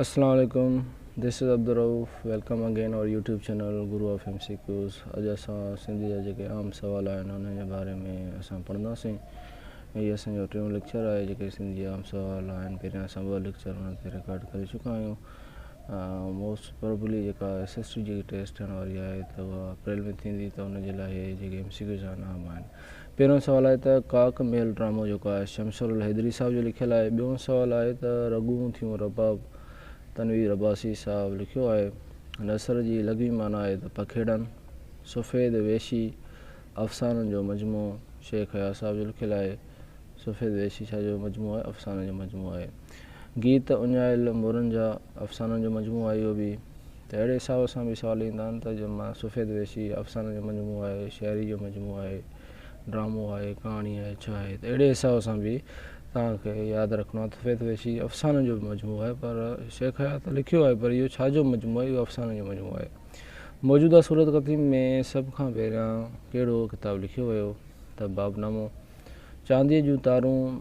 اسلام عليڪم this is Abdul Rauf welcome again اور YouTube channel guru of M C Qs اڄ اسان سنڌي جا جيڪي عام سوال آهن انهن جي باري ۾ اسان پڙهنداسين هي اسان جو ٽيون ليڪچر آهي جيڪي سنڌي عام سوال آهن پهريان اسان ٻه ليڪچر انهن تي رڪارڊ ڪري چڪا آهيون موسٽ پروبلي جيڪا ايس ايس ٽي جي ٽيسٽ ٿيڻ واري آهي ته اها اپريل ۾ ٿيندي ته ان جي لاء جيڪي ايم سي ڪيوز آهن اهم آهن پهريون سوال آهي ته ڪاڪ ميل ڊرامو جيڪو آهي شمس الحيدري صاحب جو لکيل آهي. ٻيون سوال آهي ته رڳون ٿيون رباب تنوير عباسي صاحب لکيو آهي. نثر جي لغوي معنيٰ آهي ته پکيڙن. سفيد ويشي افسانن جو مجموعو شيخ اياز صاحب جو لکيل آهي. سفيد ويشي ڇا جو مجموعو آهي؟ افسانن جو مجموعو آهي. گيت اڃايل مورن جا افسانن جو مجموعو آهي اهو به. ته اهڙي حساب سان به سوال ايندا آهن ته جنهن مان سفيد ويشي افسانن جو مجموعو آهي، شاعري جو مجموعو آهي، ڊرامو آهي، ڪهاڻي آهي، ڇا آهي؟ ته اهڙي حساب سان به توهان کي ياد رکڻو آهي ته سفيد ويشي افسانن جو مجموعو آهي پر شيخ حيات ته لکيو آهي پر اهو ڇا جو مجموعو آهي؟ اهو افسانن جو مجموعو آهي. موجوده صورت قديم ۾ سڀ کان پهريان ڪهڙو ڪتاب لکيو ويو؟ ته باب نامو. چانديء جون تارون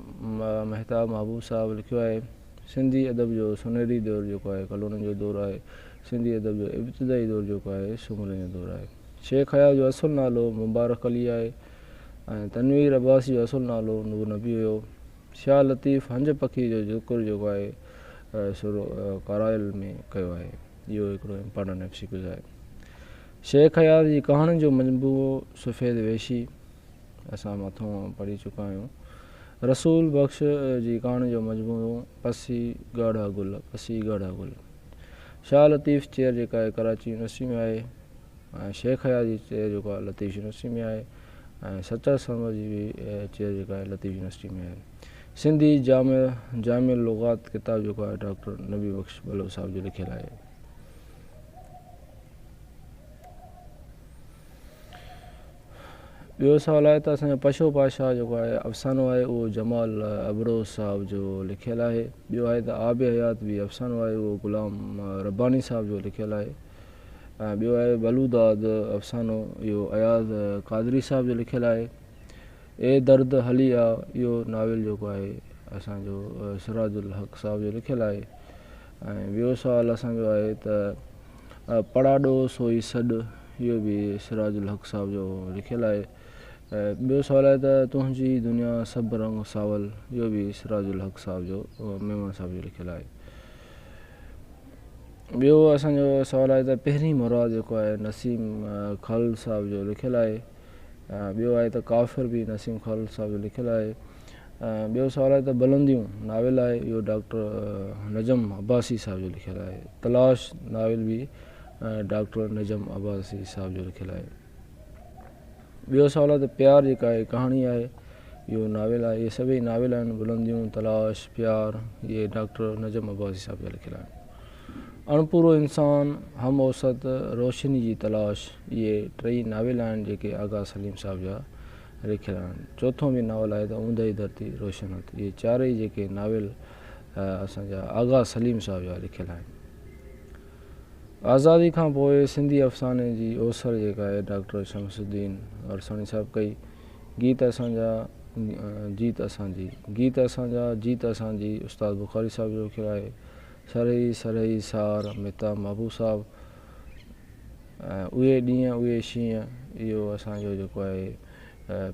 مهتاب محبوب صاحب لکيو آهي. سنڌي ادب جو سونهري دور جيڪو آهي، ڪلهوڙن جو دور آهي. سنڌي ادب جو ابتدائي دور جيڪو آهي، سومرن جو دور آهي. شيخ اياز جو اصل نالو مبارڪ علي آهي ۽ تنوير عباسي جو اصل نالو نور نبي هيو. شاهه لطيف هنج پکي جو ذڪر جيڪو آهي سو ڪارائل ۾ ڪيو آهي. اهو هڪڙو امپارٽنٽ ايم سي ڪيوز آهي. شيخ اياز جي ڪهاڻين جو مجموعو سفيد ويشي، اسان مٿون پڙهي چڪا آهيون. رسول بخش جي ڪهاڻين جو مجموعو پسي ڳاڙها گل، پسي ڳاڙها گل، شاهه لطيف چير جيڪا آهي ڪراچي يونيورسٽي ۾ آهي ۽ شيخ اياز جي چير جيڪو آهي لطيف يونيورسٽي ۾ آهي ۽ سچل سرمد جي به چير جيڪا آهي لطيف يونيورسٽي ۾ آهي. سنڌي جامع جامع اللغات ڪتاب جيڪو آهي ڊاڪٽر نبي بخش بلوچ صاحب جو لکيل آهي. ٻيو سوال آهي ته اسان جو پشو پاشا جيڪو آهي افسانو آهي اهو جمال ابروز صاحب جو لکيل آهي ٻيو آهي ته آب حيات به افسانو آهي اهو غلام رباني صاحب جو لکيل آهي ۽ ٻيو آهي بلوداد افسانو اهو اياز قادري صاحب جو لکيل آهي اي درد هلي آ اهو ناول جيڪو آهي اسان جو سراج الحق صاحب جو لکيل آهي ۽ ٻيو سوال اسان جو آهي ته پڙا ڏو سوئي سڏ اهو به سراج الحق صاحب جو لکيل آهي ۽ ٻيو سوال آهي ته تنهنجي دنيا سڀ رنگ ساول اهو به سراج الحق صاحب جو ميمڻ صاحب جو لکيل آهي ٻيو اسان جو سوال آهي ته پهرين مراد جيڪو آهي نسيم خالد صاحب جو لکيل آهي ٻيو آهي ته ڪافر به نسيم خالد صاحب جو لکيل آهي ٻيو سوال آهي ته بلنديون ناول آهي اهو ڊاڪٽر نجم عباسي صاحب جو لکيل آهي تلاش ناول به ڊاڪٽر نجم عباسي صاحب جو لکيل آهي ٻيو سوال آهي ته پيار جيڪا هي ڪهاڻي آهي اهو ناول آهي اهي سڀئي ناول آهن بلنديون تلاش پيار اهي ڊاڪٽر نجم عباسي صاحب جا لکيل آهن اڻپورو انسان هم اوسط روشني جي تلاش اهي ٽئي ناول آهن جيڪي آغا سليم صاحب جا رکيلان چوٿون به ناول آهي ته اوندهي ڌرتي روشن هٿ اهي چارئي جيڪي ناول اسان جا آغا سليم صاحب جا لکيل آهن آزادي کان پوء سنڌي افساني جي اوسر جيڪا آهي ڊاڪٽر شمس الدين ورساڻي صاحب ڪئي گيت اسان جا جيت اسان جي گيت اسان جا جيت اسان جي استاد بخاري صاحب جو لکيل آهي سرهي سرهي سار متا محبوب صاحب اهي ڏينهن اهي شينهن اهو اسان جو جيڪو آهي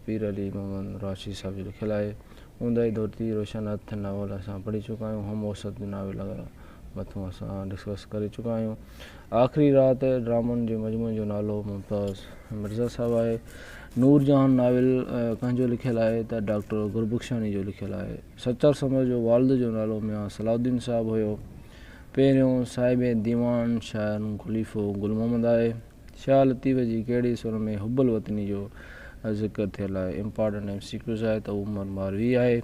پير علي محمد راشدي صاحب جو لکيل آهي اونداهي ڌرتي روشن هٿ ناول اسان پڙهي چڪا آهيون هم اوسط جو ناول مٿون اسان ڊسڪس ڪري چڪا آهيون آخري رات ڊرامن جي مجموعي جو نالو ممتاز مرزا صاحب آهي نور جهان ناول ڪنهن جو لکيل آهي ته ڊاڪٽر گربخشاني جو لکيل آهي سچل سمر جو والد جو نالو ميان صلاح الدين صاحب هيو پهريون صاحب ديوان شاعر خليفو گل محمد آهي. شاهه لطيف جي ڪهڙي سر ۾ حب الوطني جو ذڪر ٿيل آهي؟ امپارٽنٽ ايم سي ڪيوز آهي ته هو عمر ماروي آهي.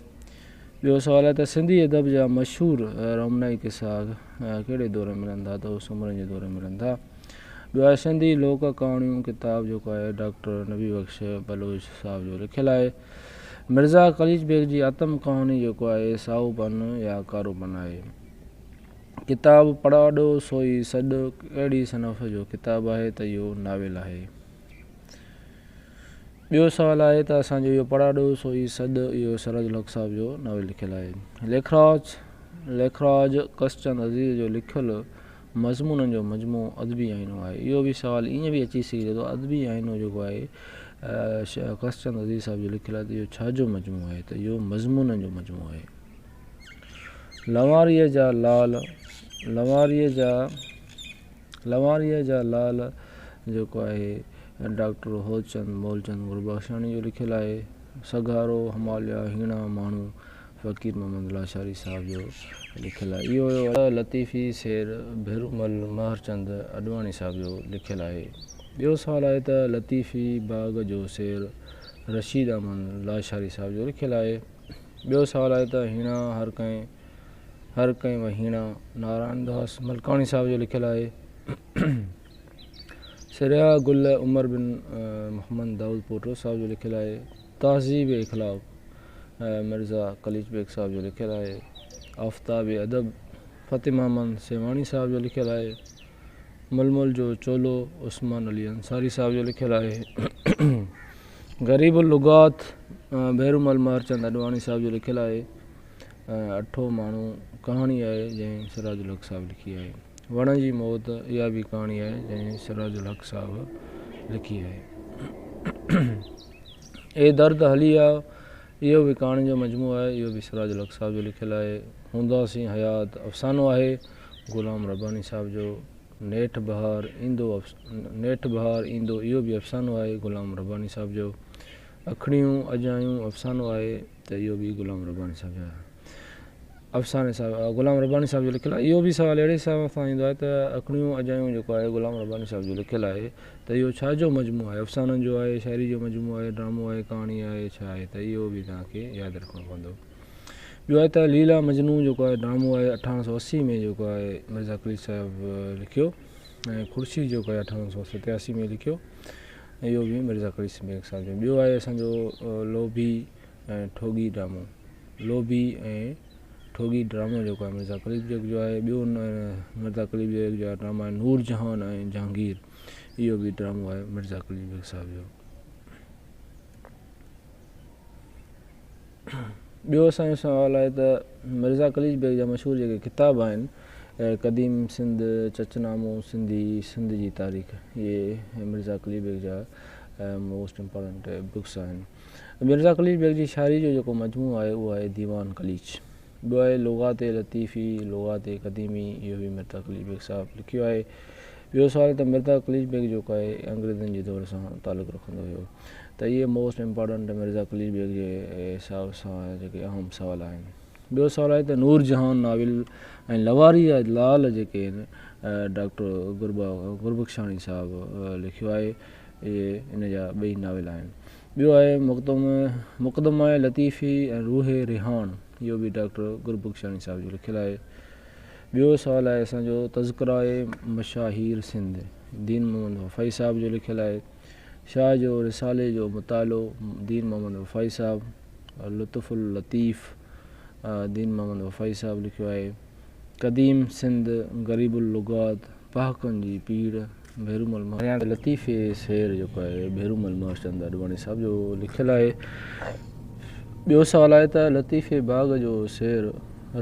ٻيو سوال آهي ته سنڌي ادب جا مشهور رومنائي قصا ڪهڙي دور ۾ ملن ٿا ته هو سومرن جي دور ۾ ملن ٿا. ٻيو آهي سنڌي لوڪ ڪهاڻيون ڪتاب جيڪو آهي ڊاڪٽر نبي بخش بلوچ صاحب جو لکيل آهي. مرزا قليچ بيگ جي آتم ڪهاڻي جيڪو آهي سائو پن يا ڪارو پن آهي. ڪتاب پڙاڏو سوئي سڏ ڪهڙي صنف جو ڪتاب آهي ته اهو ناول آهي. ٻيو سوال آهي ته اسان جو اهو پڙاڏو سوئي سڏ اهو سراج الحق صاحب جو ناول لکيل آهي. ليکراج ليکراج ڪسچند عزيز جو لکيل مضمونن جو مجموعو ادبي آئينو آهي. اهو به سوال ائين به اچي سگهي ٿو ته ادبي آئينو جيڪو آهي قص چند عزيز صاحب جو لکيل آهي ته اهو ڇا جو مجموعو آهي ته اهو مضمونن جو مجموعو آهي. لنواريء جا لعل لنواريء جا لنواريء جا لعل جيڪو آهي ڊاڪٽر هوتچند مولچند گلبخشاڻي جو لکيل آهي. سگهارو هماليا هيڻا ماڻهو. فقير محمد لاشاري صاحب جو لکيل آهي. اهو لطيفي سير ڀيرومل مهرچند اڏواڻي صاحب جو لکيل آهي. ٻيو سوال آهي ته لطيفي باغ جو سير رشيد احمد لاشاري صاحب جو لکيل آهي. ٻيو سوال آهي ته هيڻا هر ڪنهن هر ڪنهن وهيڻا نارائڻ داس ملڪاڻي صاحب جو لکيل آهي. سرهيا گل عمر بن محمد دائود پوٽو صاحب جو لکيل آهي. تهذيب اخلاق مرزا قليچ بيگ صاحب جو لکيل آهي. آفتاب ادب فتح محمد سيوهاڻي صاحب جو لکيل آهي. ململ جو چولو عثمان علي انصاري صاحب جو لکيل آهي. غريب اللغات ڀيرومل مهرچند اڏواڻي صاحب جو لکيل آهي. اٺو ماڻهو ڪهاڻي آهي جنهن سراج الحق صاحب لکي آهي. وڻ جي موت اها به ڪهاڻي آهي جنهن سراج الحق صاحب لکي آهي. اي درد هلي آء اهو به ڪهاڻين جو مجموعو آهي. اهو به سراج الحق صاحب جو لکيل آهي. هونداسين حيات افسانو آهي غلام رباني صاحب جو. نيٺ بهار ايندو نيٺ بهار ايندو اهو به افسانو آهي غلام رباني صاحب جو. اکڙيون اجايون افسانو آهي. ته اهو به غلام رباني صاحب جا افسانه صاحب غلام رباني صاحب جو لکيل آهي اهو به سوال اهڙي حساب سان ايندو آهي ته اکڻيون اجايون جيڪو آهي غلام رباني صاحب جو لکيل آهي ته اهو ڇا جو مجموعو آهي افسانن جو آهي شاعري جو مجموعو آهي ڊرامو آهي ڪهاڻي آهي ڇا آهي ته اهو به تنهن کي ياد رکڻو پوندو ٻيو آهي ته ليلا مجنون جيڪو آهي ڊرامو آهي اٺارهن سو اسي ۾ جيڪو آهي مرزا قليچ صاحب لکيو ۽ خورشيد جيڪو آهي اٺارهن سو ستياسي ۾ لکيو اهو به مرزا ڪريشن بيگ صاحب جو. ٻيو آهي اسان جو لوڀي ۽ ٺوڳي ڊرامو. لوڀي ۽ ٺوڳي ڊرامو جيڪو آهي مرزا قليچ بيگ جو آهي. ٻيو مرزا قليچ بيگ جا ڊراما آهن نور جهان ۽ جهانگير. اهو به ڊرامو آهي مرزا قليچ بيگ صاحب جو. ٻيو اسان جو سوال آهي ته مرزا قليچ بيگ جا مشهور جيڪي ڪتاب آهن قديم سنڌ، چچ نامو، سنڌي، سنڌ جي تاريخ اهي مرزا قليچ بيگ جا موسٽ امپارٽنٽ بڪس آهن. مرزا قليچ بيگ جي شاعري جو جيڪو مجموعو آهي اهو آهي ديوان قليچ. ٻيو آهي لغات لطيفي، لغات قديمي، اهو به مرزا قليچ بيگ صاحب لکيو آهي. ٻيو سوال ته مرزا قليچ بيگ جيڪو آهي انگريزن جي دور سان تعلق رکندو هيو ته اهي موسٽ امپارٽنٽ مرزا قليچ بيگ جي حساب سان جيڪي اهم سوال آهن. ٻيو سوال آهي ته نور جهان ناول ۽ لواري جا لعل جيڪي آهن ڊاڪٽر گربخشاڻي صاحب لکيو آهي اهي ان جا ٻئي ناول آهن. ٻيو آهي مقدمه لطيفي ۽ روح ريحان اهو به ڊاڪٽر گربخشاڻي صاحب جو لکيل آهي. ٻيو سوال آهي اسان جو تذڪره مشاهير سنڌ دين محمد وفائي صاحب جو لکيل آهي. شاهه جو رسالي جو مطالعو دين محمد وفائي صاحب لطف اللطيف دين محمد وفائي صاحب لکيو آهي. قديم سنڌ غريب اللغات پهاڪن جي پيڙهه ڀيرومل مهر چند ۽ لطيفي شعر جيڪو آهي ڀيرومل مهر چند اڏواڻي صاحب جو لکيل آهي ٻيو سوال آهي ته لطيفي باغ جو شعر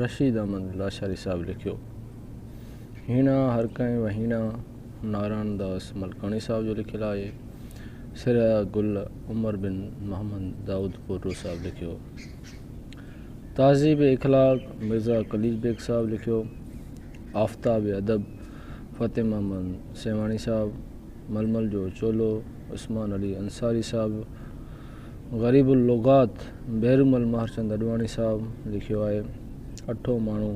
رشيد احمد لاشاري صاحب لکيو هيڻا هر ڪنهن وهيڻا نارائڻ داس ملڪاڻي صاحب جو لکيل آهي سريا گل عمر بن محمد داود پورو صاحب لکيو تهذيب اخلاق مرزا قليچ بيگ صاحب لکيو، آفتاب ادب فتح محمد سيوهاڻي صاحب، ململ جو چولو عثمان علي انصاري صاحب، غريب اللغات بحرمل ماهرچند اڏواڻي صاحب لکيو آهي. اٺون ماڻهو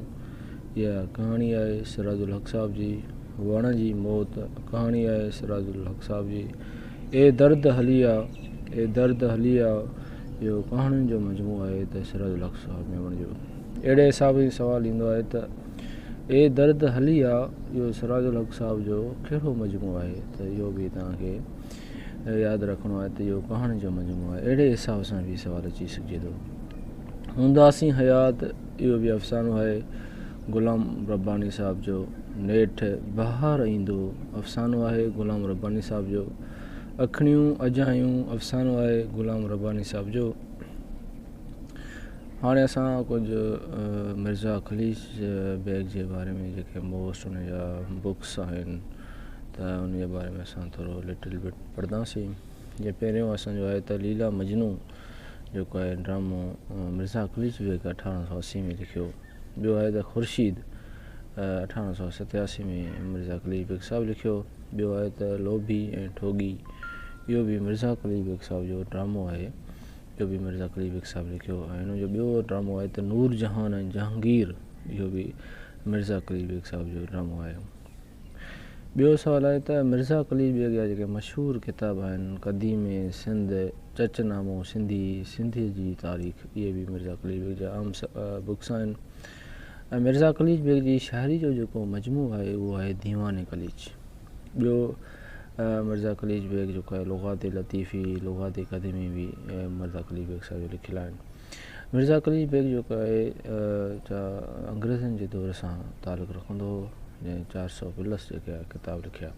اها ڪهاڻي آهي سراج الحق صاحب جي، وڻ جي موت ڪهاڻي آهي سراج الحق صاحب جي، اي درد هلي آ اي درد هلي آ اهو ڪهاڻين جو مجموعو آهي ته سراج الحق صاحب ميمڻ جو اهڙي حساب هي سوال ايندو آهي ته اي درد هلي آ اهو سراج الحق صاحب جو ڪهڙو مجموعو آهي ته اهو به توهان کي ياد رکڻو آهي ته اهو ڪهاڻين جو مجموعو آهي اهڙي حساب سان به سوال اچي سگهجي ٿو هونداسين حيات اهو به افسانو آهي غلام رباني صاحب جو نيٺ بهار ايندو افسانو آهي غلام رباني صاحب جو اکڻيون اجايون افسانو آهي غلام رباني صاحب جو هاڻي اسان ڪجهه مرزا اکليش بيگ جي باري ۾ جيڪي موسٽ ان جا بڪس آهن ته ان جي باري ۾ اسان ٿورو لٽل بٽ پڙهنداسين جي پهريون اسانجو آهي ته ليلا مجنو جيڪو آهي ڊرامو مرزا اکليش بيگ اٺارهن سو اسي ۾ لکيو ٻيو آهي ته خورشيد اٺاڻو سؤ ستياسي ۾ مرزا قليچ بيگ صاحب لکيو. ٻيو آهي ته لوڀي ۽ ٺوڳي اهو به مرزا قليچ بيگ صاحب جو ڊرامو آهي جو به مرزا قليچ بيگ صاحب لکيو ۽ هن جو ٻيو ڊرامو آهي ته نور جهان ۽ جهانگير اهو به مرزا قليچ بيگ صاحب جو ڊرامو آهي. ٻيو سوال آهي ته مرزا قليچ بيگ جا جيڪي مشهور ڪتاب آهن قديم سنڌ، چچ نامو سنڌي، سنڌيء جي تاريخ اهي به مرزا قليچ بيگ جا اهم بڪس آهن ۽ مرزا قليچ بيگ جي شاعري جو جيڪو مجموعو آهي اهو آهي ديوان قليچ. ٻيو مرزا قليچ بيگ جيڪو آهي لغات لطيفي، لغات قديمي به مرزا قليچ بيگ صاحب جا لکيل آهن. مرزا قليچ بيگ جيڪو آهي جا انگريزن جي دور سان تعلق رکندو هو جنهن چار سؤ پلس جيڪي ڪتاب لکيا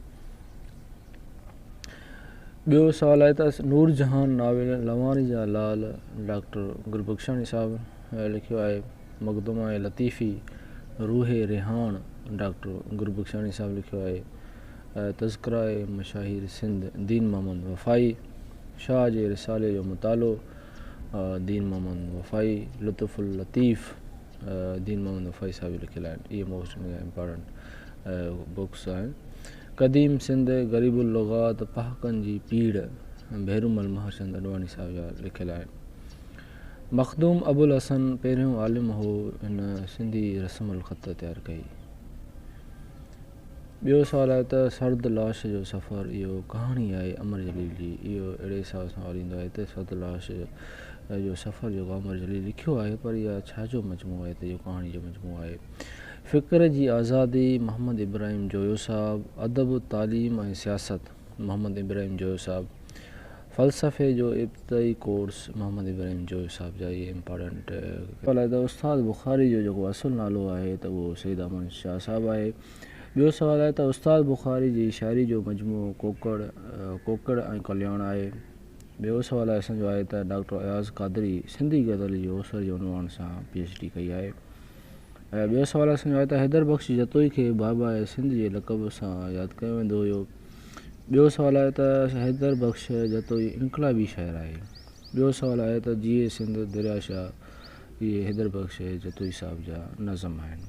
ٻيو سوال آهي ته نور جهان ناول لواني جا لال ڊاڪٽر گلبخشاڻي صاحب لکيو آهي مقدمه لطيفي روح ريحان ڊاڪٽر گلبخشاڻي صاحب لکيو آهي تذڪرا مشاهير سنڌ دين محمد وفائي شاهه جي رسالي جو مطالعو دين محمد وفائي لطف اللطيف دين محمد وفائي صاحب جي لکيل آهن اهي موسٽ امپارٽنٽ بڪس آهن قديم سنڌ غريب اللغات پهاڪن جي پيڙ ڀيرومل مهرچند اڏواڻي صاحب جا لکيل آهن مخدوم ابوالحسن پهريون عالم هو هن سنڌي رسم الخط تيار ڪئي ٻيو سوال آهي ته سرد لاش جو سفر اهو ڪهاڻي آهي امر جليل جي اهو اهڙي حساب سان ورندو آهي ته سرد لاش جو سفر جيڪو امر جليل لکيو آهي پر اها ڇا جو مجموعو آهي ته اهو ڪهاڻي جو مجموعو آهي فڪر جي آزادي محمد ابراهيم جويو صاحب ادب تعليم ۽ سياست محمد ابراهيم جويو صاحب فلسفي جو ابتدائي ڪورس محمد ابراهيم جويي صاحب جا اهي امپارٽنٽ. سوال آهي ته استاد بخاري جو جيڪو اصل نالو آهي ته اهو سيد احمد شاهه صاحب آهي. ٻيو سوال آهي ته استاد بخاري جي شاعري جو مجموعو ڪوڪڙ، ڪوڪڙ ۽ ڪلياڻ آهي. ٻيو سوال اسان جو آهي ته ڊاڪٽر اياز قادري سنڌي غزل جي اوسر جي عنوان سان پي ايڇ ڊي ڪئي آهي. ۽ ٻيو سوال اسان جو آهي ته حيدر بخش جتوئي کي باباء سنڌ جي لقب سان ياد ڪيو ويندو هيو. ٻيو سوال آهي ته حيدر بخش جتوئي انقلابي شاعر آهي. ٻيو سوال آهي ته جيئي سنڌ دريا شاهه اهي حيدر بخش جتوئي صاحب جا نظم آهن.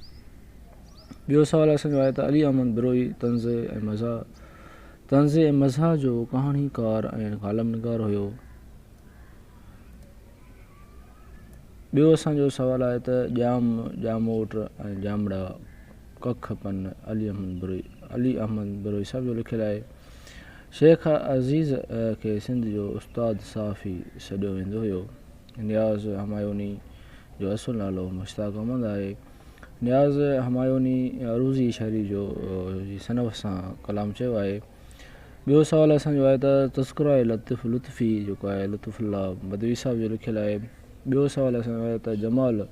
ٻيو سوال اسان جو آهي ته علي احمد بروهي طنز ۽ مزاح طنز ۽ مزاح جو ڪهاڻيڪار ۽ ڪالم نگار هيو. ٻيو اسان جو سوال آهي ته ڄام، ڄاموٽ ۽ ڄامڙا. ڪک پن، علي احمد بروهي علي احمد بروهي صاحب جو لکيل آهي. شيخ عزيز کي سنڌ جو استاد صحافي سڏيو ويندو هيو. نياز همايوني جو اصل نالو مشتاق احمد آهي. نياز همايوني عروضي شاعري جو جي صنف سان ڪلام چيو آهي. ٻيو سوال اسان جو آهي ته تذڪره لطيف لطفي جيڪو آهي لطف الله بدوي صاحب جو لکيل آهي. ٻيو سوال اسان جو آهي ته جمال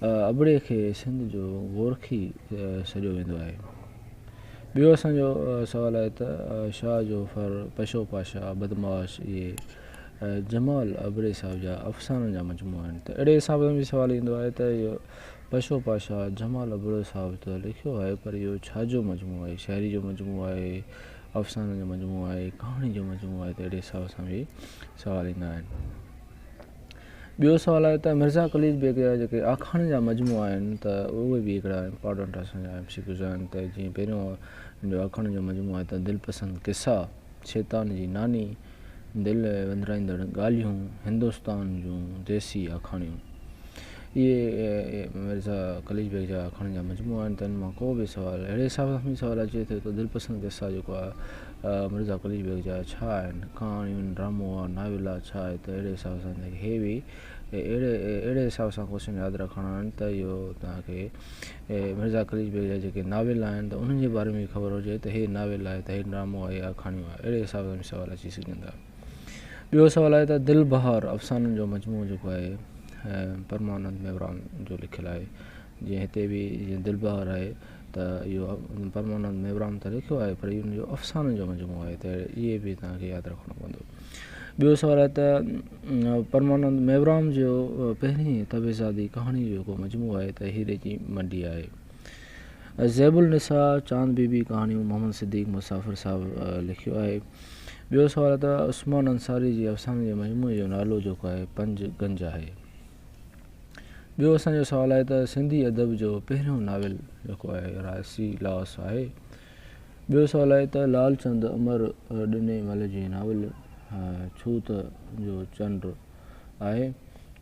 ابڙي کي سنڌ جو گورکي سڏيو ويندو آهي. ٻيو اسان جو سوال آهي ته شاهه جو ڦر، پشو پاشا، بدمعاش اهي جمال ابڙي صاحب جا افسانن جا مجموعا آهن ته اهڙي حساب سان به سوال ايندو آهي ته اهو پشو پاشا جمال ابڙو صاحب ته لکيو آهي پر اهو ڇا جو مجموعو آهي شاعري جو مجموعو آهي، افسانن جو مجموعو آهي، ڪهاڻي جو مجموعو آهي ته اهڙي حساب سان به سوال ايندا آهن. ٻيو سوال آهي ته مرزا قليچ بيگ جا جيڪي آکاڻين جا مجموعا آهن ته اهي به هڪڙا امپارٽنٽ اسان جا ايم سي ڪيوز آهن ته جيئن پهريون جو آکاڻين جو مجموعو آهي ته دلپسند قصا، شيطان جي ناني، دل وندرائيندڙ ڳالهيون، هندستان جون ديسي آکاڻيون. اهي مرزا قليچ بيگ جا آکاڻين جا مجموعا آهن ته ان مان ڪو به سوال اهڙي حساب سان سوال اچي ٿو ته دلپسند قصا جيڪو آهي مرزا قليچ بيگ جا ڇا آهن ڪهاڻيون ڊرامو آ ناول آ ڇا آهي ته اهڙي حساب سان تنهنکي هي وي اهڙي اهڙي حساب سان ڪوشن ياد رکڻا آهن ته اهو تنهنکي مرزا قليچ بيگ جا جيڪي ناول آهن ته انهن جي باري ۾ به خبر هجي ته هي ناول آهي ته هي ڊرامو آهي يا ڪهاڻيون آهي اهڙي حساب سان به سوال اچي سگهن ٿا ٻيو سوال آهي ته دل بهار افسانن جو مجموعو جيڪو آهي پرمانند ميوراڻ جو لکيل آهي جنهن هتي به جيئن دل بهار آهي ته اهو پرمانند ميوراڻ ته لکيو آهي پر ان جو افسانن جو مجموعو آهي ته اهي به تنهن کي ياد رکڻو پوندو. ٻيو سوال آهي ته پرمانند ميوراڻ جو پهرين طبعزادي ڪهاڻي جو جيڪو مجموعو آهي ته هيري جي منڊي آهي. زيب النساء، چاند بي بي ڪهاڻيون محمد صديق مسافر صاحب لکيو آهي. ٻيو سوال آهي ته عثمان انصاري جي افسانن جي مجموعي جو نالو جيڪو آهي پنج گنج آهي. ٻيو اسان جو سوال آهي ته سنڌي ادب جو پهريون ناول جيڪو آهي راسي لاس آهي. ٻيو سوال آهي ته لالچند امر ڏني مل جي ناول ڇوت جو چنڊ آهي.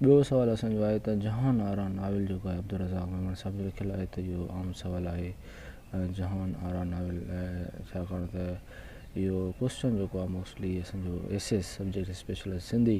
ٻيو سوال اسان جو آهي ته جهان آرا ناول جيڪو آهي عبدالرزاق ميمڻ صاحب جو لکيل آهي ته اهو عام سوال آهي جهان آرا ناول ڇاڪاڻ ته اهو ڪوسچن جيڪو آهي موسٽلي اسان جو S S subject special Sindhi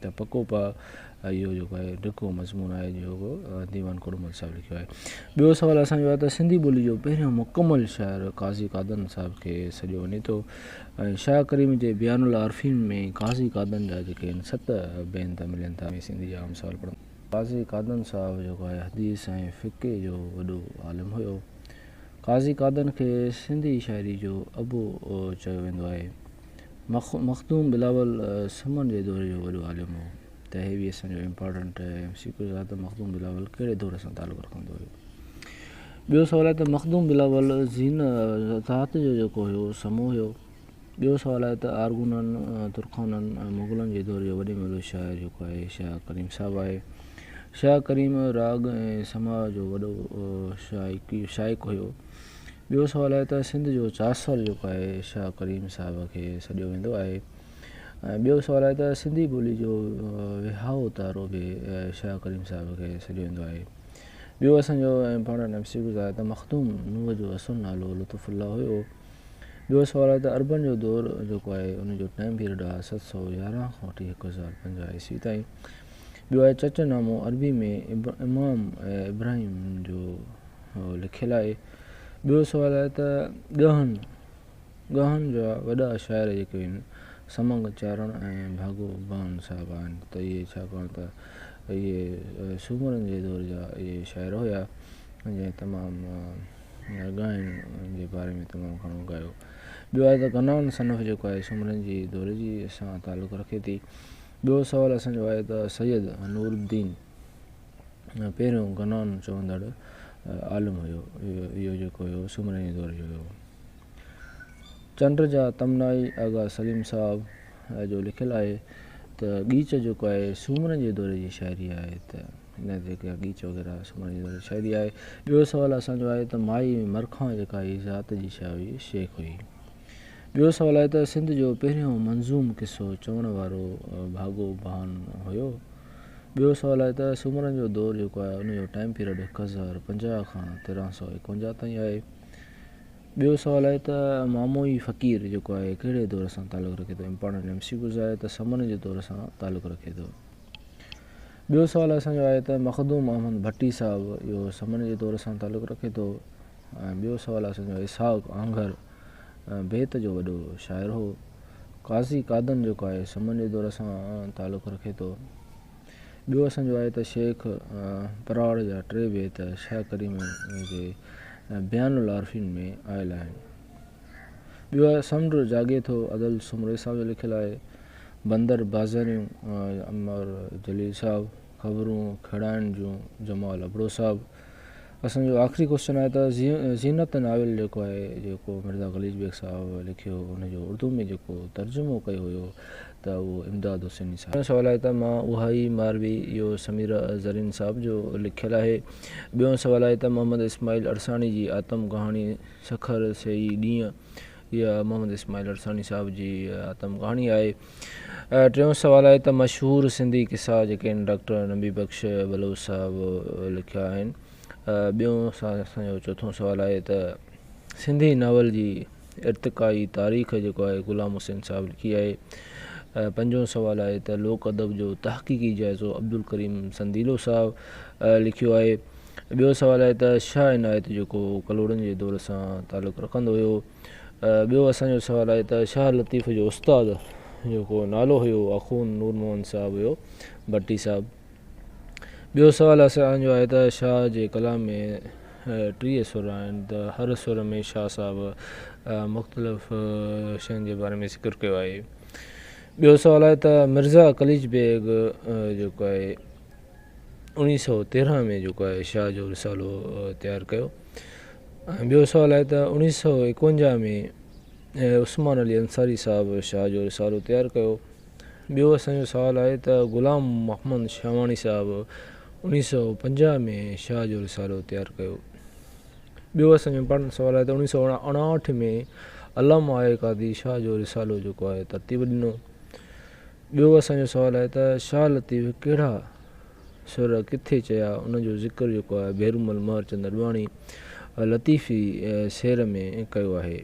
ته پڪو پاء اهو جيڪو آهي ڊگهو مضمون آهي جيڪو ديوان ڪوڏمل صاحب لکيو آهي ٻيو سوال اسان جو آهي ته سنڌي ٻولي جو پهريون مڪمل شاعر قاضي قادن صاحب کي سڏيو وڃي ٿو ۽ شاهه ڪريم جي بيان العارفين ۾ قاضي قادن جا جيڪي آهن ست بينت ملن ٿا ۾ سنڌي جا عام سوال پڙهن قاضي قادن صاحب جيڪو آهي حديث ۽ فقه جو وڏو عالم هيو قاضي قادن کي سنڌي شاعري جو ابو چيو ويندو آهي مخدوم بلاول سمن جي دور جو وڏو عالم هو ته هي ويسن جو امپارٽنٽ ايم سي ڪيو ته مخدوم بلاول ڪهڙي دور سان تعلق رکندو هيو ٻيو سوال آهي ته مخدوم بلاول زين ذات جو جيڪو هيو سمو هيو ٻيو سوال آهي ته آرگونن ترخانن مغلن جي دور جو وڏي ملو شاعر جيڪو آهي شاهه ڪريم صاحب آهي شاهه ڪريم راڳ ۽ سماء جو وڏو شائق شائق هيو ٻيو سوال آهي ته سنڌ جو چاسر جيڪو آهي شاهه ڪريم صاحب کي سڏيو ويندو آهي ۽ ٻيو سوال آهي ته سنڌي ٻولي جو وهائو تارو به شاهه ڪريم صاحب کي سڏيو ويندو آهي ٻيو اسانجو ۽ پاڻ نفسي گذار ته مخدوم نوح جو اصل نالو لطف الله هيو ٻيو سوال آهي ته عربن جو دور جيڪو آهي ان جو ٽائيم پيريڊ آهي ست سؤ يارهن کان وٺي هڪ هزار پنجاهه عيسوي تائين ٻيو آهي چچ نامو عربي ۾ امام ابراهيم جو لکيل آهي ٻيو سوال آهي ته ڳهن ڳهن جا وڏا شاعر جيڪي آهن سمنگ چارڻ ۽ ڀاڳو بان صاحب آهن ته اهي ڇاڪاڻ ته اهي سومرن جي دور جا اهي شاعر هيا جنهن تمامु ڳائڻ جي باري ۾ تمامु گهڻو ڳايو ٻيو آهي ته غنائن صنف جيڪو آهي سومرن جي دور جي سان تعلق رکي ٿي ٻيو سوال اسانجو آهي ته سيد نور الدين پهريون غنائن چوندڙ عالم هيو. اهو جيڪو هيو سومري دور جو هيو. چنڊ جا تمنائي آغا سليم صاحب جو لکيل آهي ته ڳيچ جيڪو آهي سومرن جي دور جي شاعري آهي ته ان جيڪا ڳيچ وغيره سومرن جي دور جي شاعري آهي. ٻيو سوال اسان جو آهي ته مائي مرکان جيڪا هئي ذات جي شاهه هئي شيخ هئي. ٻيو سوال آهي ته سنڌ جو پهريون منظوم قصو چوڻ وارو ڀاڳو ڀان هيو. ٻيو سوال آهي ته سومرن جو دور جيڪو آهي ان جو ٽائيم پيريڊ هڪ هزار پنجاهه کان تيرنهن سؤ ايڪونجاهه تائين آهي. ٻيو سوال آهي ته ماموئي فقير جيڪو آهي ڪهڙي دور سان تعلق رکي ٿو امپارٽنٽ ايم سي ڪيوز آهي ته سمن جي دور سان تعلق رکي ٿو. ٻيو سوال اسان جو آهي ته مخدوم احمد ڀٽي صاحب اهو سمن جي دور سان تعلق رکي ٿو ۽ ٻيو سوال اسان جو اسحاق آنگهر بيت جو وڏو شاعر هو. قاضي قادن جيڪو آهي سمن جي دور سان تعلق رکي ٿو. ٻيو اسان جو آهي ته شيخ پراڙ جا ٽي بيت شاهه ڪريم جي بيان العارفين ۾ آيل آهن. ٻيو آهي سمنڊ جاڳي ٿو ادل سومري صاحب جو لکيل آهي. بندر بازاريون عمر جليل صاحب، خبرون کهڙائڻ جون جمال ابڙو صاحب. اسان جو آخري ڪوشچن آهي ته زينت ناول جيڪو آهي جيڪو مرزا خليج بيگ صاحب لکيو هو ان جو اردو ۾ جيڪو ترجمو ڪيو هيو ته اهو امداد حسيني صاحب. پهريون سوال آهي ته مان اها ئي ماروي اهو سميره زرين صاحب جو لکيل آهي. ٻيون سوال آهي ته محمد اسماعيل عرساڻي جي آتم ڪهاڻي سکر سيئي ڏينهن اها محمد اسماعيل عرساڻي صاحب جي آتم ڪهاڻي آهي. ٽيون سوال آهي ته مشهور سنڌي قصا جيڪي آهن ڊاڪٽر نبي بخش بلوچ صاحب لکيا آهن ٻيون اسان جو چوٿون سوال آهي ته سنڌي ناول جي ارتقائي تاريخ جيڪو آهي غلام حسين صاحب لکي آهي پنجون سوال آهي ته لوڪ ادب جو تحقيقي جائزو عبدالڪريم سنديلو صاحب لکيو آهي ٻيو سوال آهي ته شاهه عنايت جيڪو ڪلهوڙن جي دور سان تعلق رکندو هيو ٻيو اسان جو سوال آهي ته شاهه لطيف جو استاد جيڪو نالو هيو اخون نور محمد صاحب هيو ڀٽي صاحب ٻيو سوال اسان جو آهي ته شاهه جي ڪلام ۾ ٽيهه سر آهن ته هر سر ۾ شاهه صاحب مختلف شين جي باري ۾ ذڪر ڪيو آهي ٻيو سوال آهي ته مرزا قليچ بيگ جيڪو آهي اوڻيهه سو تيرهن ۾ جيڪو آهي شاهه جو رسالو تيار ڪيو ۽ ٻيو سوال آهي ته اوڻيهه سؤ اڪونجاهه ۾ عثمان علي انصاري صاحب شاهه جو رسالو تيار ڪيو ٻيو اسانجو سوال آهي ته غلام محمد شاهواڻي صاحب اوڻيهه سؤ پنجاهه ۾ شاهه جو رسالو تيار ڪيو ٻيو اسانجو امپارٽنٽ سوال آهي ته اوڻيهه سؤ اڻاهٺ ۾ علامه آء قاضي شاهه جو رسالو جيڪو آهي ترتيب ڏنو ٻيو اسانجو سوال آهي ته شاهه لطيف ڪهڙا سر ڪٿي چيا ان جو ذڪر جيڪو آهي ڀيرومل مهرچند اڏواڻي لطيفي سير ۾ ڪيو آهي.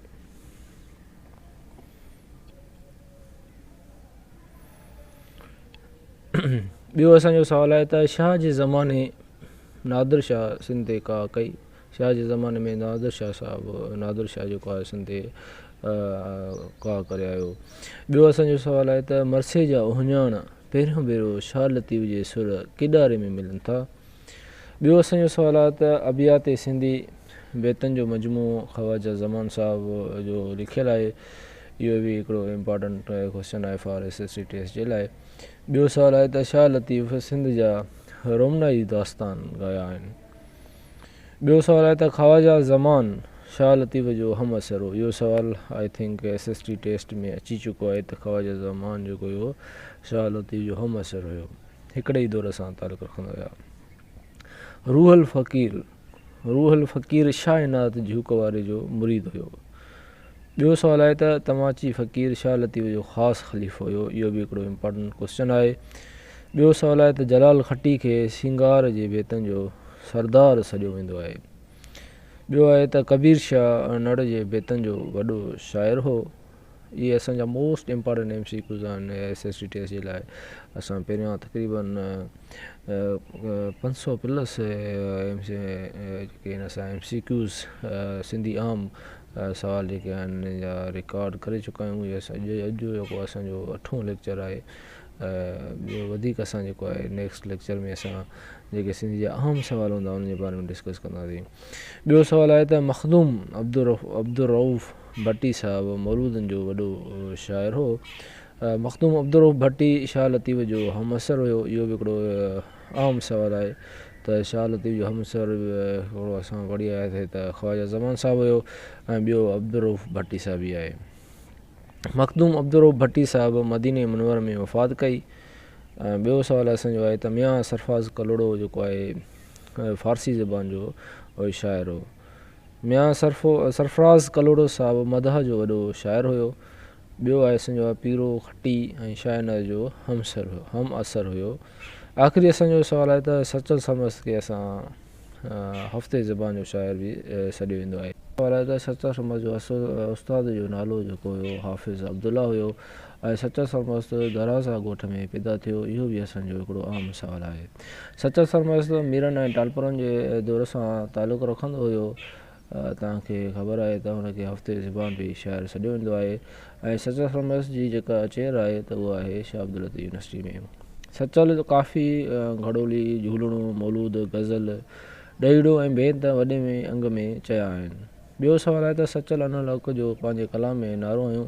ٻيو اسان جو سوال آهي ته شاهه جي زماني نادر شاهه سنڌ تي ڪاهه ڪئي؟ شاهه جي زماني ۾ نادر شاهه صاحب نادر شاهه جيڪو آهي سنڌ تي ڪاهه ڪري آيو. ٻيو اسان جو سوال آهي ته مرثي جا اهڃاڻ پهريون ڀيرو شاهه لطيف جي سر ڪيڏاري ۾ ملن ٿا. ٻيو اسان جو سوال آهي ته ابيات سنڌي بيتن جو مجموعو خواجه زمان صاحب جو لکيل آهي. اهو به هڪڙو امپارٽنٽ ڪوسچن آهي for S S C test جي لاء. ٻيو سوال آهي ته شاهه لطيف سنڌ جا رومنائي داستان ڳايا آهن. ٻيو سوال آهي ته خواجه زمان شاهه لطيف جو همعصر هو. اهو سوال I think S S T test ۾ اچي چڪو آهي ته خواجه زمان جيڪو هيو شاهه لطيف جو همعصر هيو. هڪڙي ئي دور سان تعلق رکندا هيا. روح الفقير روح الفقير شاهه عنايت جهوڪ واري جو مريد هيو. ٻيو سوال آهي ته توهان چي فقير شاهه لطيف جو خاص خليفو هيو اهو به هڪڙو امپارٽنٽ ڪوسچن آهي. ٻيو سوال آهي ته جلال کٽي کي سينگار جي بيتن جو سردار سڏيو ويندو آهي. ٻيو آهي ته ڪبير شاهه نڙ جي بيتن جو وڏو شاعر هو. اهي اسان جا most important M C Qs آهن ايس ايس سي ٽيسٽ جي لاء اسان پهريان تقريبا پنج سئو plus M C Qs Sindhi عام سوال جيڪي آهن جا رڪارڊ ڪري چڪا آهيون اهي اسان جي اڄ جو جيڪو اسان جو اٺون ليڪچر آهي ٻيو وڌيڪ اسان جيڪو آهي نيڪسٽ ليڪچر ۾ اسان جيڪي سنڌ جا اهم سوال هوندا ان جي باري ۾ ڊسڪس ڪنداسين ٻيو سوال آهي ته مخدوم عبدالرؤف ڀٽي صاحب مولودن جو وڏو شاعر هو مخدوم عبدالرؤف ڀٽي شاهه لطيف جو همعصر هيو اهو به هڪڙو عام سوال آهي ته شاهه لطيف جو همعصر هڪڙو اسان پڙهي آياسين ته خواجه زمان صاحب هيو ۽ ٻيو عبدالرؤف ڀٽي صاحب هي آهي. مخدوم عبدالرؤف ڀٽي صاحب مديني منور ۾ وفات ڪئي ۽ ٻيو سوال اسان جو آهي ته ميان سرفراز ڪلهوڙو جيڪو آهي فارسي زبان جو شاعر هو. ميان سرفراز ڪلهوڙو صاحب مدح جو وڏو شاعر هيو ٻيو آء سنجو آء پيرو کٽي ۽ شاهنر جو هم عصر هيو. آخري اسان جو سوال آهي ته سچل سرمست کي اسان هفتي زبان جو شاعر به سڏيو ويندو آهي. سوال آهي ته سچل سرمست جو اصل استاد جو نالو جيڪو هيو حافظ عبدالله هيو ۽ سچل سرمست درازا ڳوٺ ۾ پيدا ٿيو اهو به اسان جو هڪڙو اهم سوال آهي. سچل سرمست ميرن ۽ ٽالپرن جي دور سان تعلق رکندو هيو. توهان کي خبر آهي ته هن کي هفتي زبان به شاعر سڏيو ويندو آهي ۽ سچل فرميس جي جيڪا چير آهي ته اها آهي شاهه عبداللطيف يونيورسٽي ۾. سچل ڪافي، گهڙولي، جهولڻو، مولود، غزل، ڏهيڙو ۽ بيت وڏي ۾ انگ ۾ چيا آهن. ٻيو سوال آهي ته سچل ان الحق جو پنهنجي ڪلام ۾ نعرو هنيو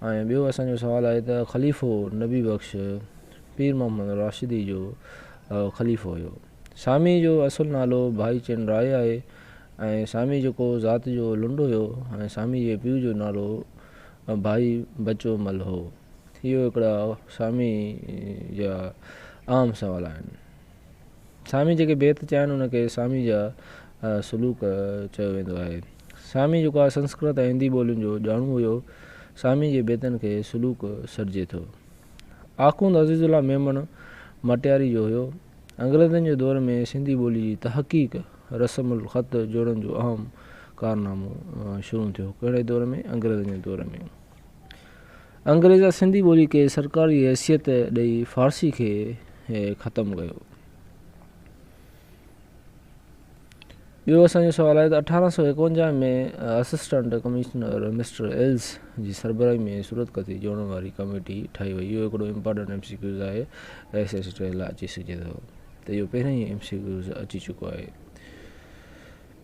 ۽ ٻيو اسان جو سوال آهي ته خليفو نبي بخش پير محمد راشدي جو خليفو هيو. ساميء جو اصل نالو ڀائي چن راء آهي ۽ سامي جيڪو ذات جو لنڊ هيو ۽ سامي جي پيء جو نالو ڀائي بچو مل هو. اهو هڪڙا سامي جا عام سوال آهن. سامي جيڪي بيت چيا آهن ان کي سامي جا سلوڪ چيو ويندو آهي. سامي جيڪو آهي سنسڪرت ۽ هندي ٻولين جو ڄاڻو هيو. سامي جي بيتن کي سلوڪ سڏجي ٿو. آخوند عزيز الله ميمڻ مٽياري جو هيو. انگريزن جي دور ۾ سنڌي ٻولي جي تحقيق رسم الخط جوڙڻ جو اهم ڪارنامو شروع ٿيو ڪهڙي دور ۾ انگريزن جي دور ۾ انگريز سنڌي ٻولي کي سرڪاري حيثيت ڏئي فارسي کي ختم ڪيو ٻيو اسان جو سوال آهي ته اٺارهن سؤ ايڪونجاهه ۾ اسسٽنٽ ڪمشنر مسٽر ايلز جي سربراهي ۾ صورت ڪتي جوڙڻ واري ڪميٽي ٺاهي وئي اهو هڪڙو امپارٽنٽ ايم سي ڪيوز آهي ايس ايس ٽي لاء اچي سگهجي ٿو ته اهو پهرين ئي ايم سي ڪيوز اچي چڪو آهي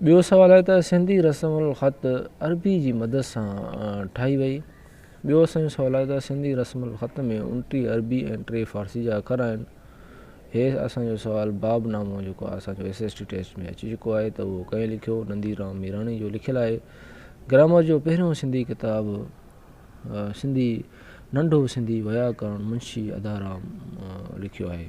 ٻيو سوال آهي ته سنڌي رسم الخط عربي جي مدد سان ٺاهي وئي ٻيو اسان جو سوال آهي ته سنڌي رسم الخط ۾ انٽي عربي ۽ ٽي فارسي جا اکر آهن هي اسان جو سوال باب نامو جيڪو اسان جو ايس ايس ٽي ٽيسٽ ۾ اچي چڪو آهي ته اهو ڪنهن لکيو نندي رام ميراڻي جو لکيل آهي گرامر جو پهريون سنڌي ڪتاب سنڌي ننڍو سنڌي ويا ڪرڻ منشي ادا رام لکيو آهي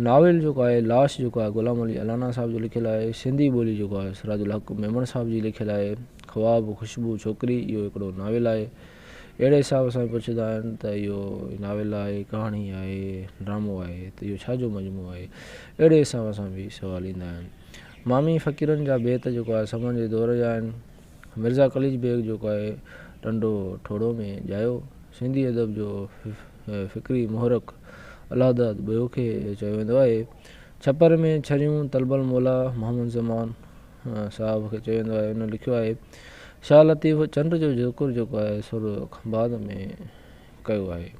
ناول جيڪو آهي لاش جيڪو آهي غلام علي الانا صاحب جو لکيل آهي سنڌي ٻولي جيڪو آهي سراج الحق ميمڻ صاحب جي لکيل آهي خواب خوشبو ڇوڪري اهو هڪڙو ناول آهي اهڙي حساب سان پڇندا آهن ته اهو ناول آهي، ڪهاڻي آهي، ڊرامو آهي ته اهو ڇا جو مجموعو آهي؟ اهڙي حساب سان به سوال ايندا آهن. مامي فقيرن جا بيت جيڪو آهي سمن جي دور جا آهن. مرزا قليچ بيگ جيڪو آهي ٽنڊو ٺوڙهو ۾ ڄايو سنڌي ادب جو فڪري محرڪ الهداد ٻيو کي چيو ويندو آهي. ڇپر ۾ ڇريون تلبل مولا محمد زمان صاحب کي چئي ويندو آهي هن لکيو آهي شاهه لطيف چنڊ جو ذڪر جيڪو آهي سو به خنباد ۾ ڪيو آهي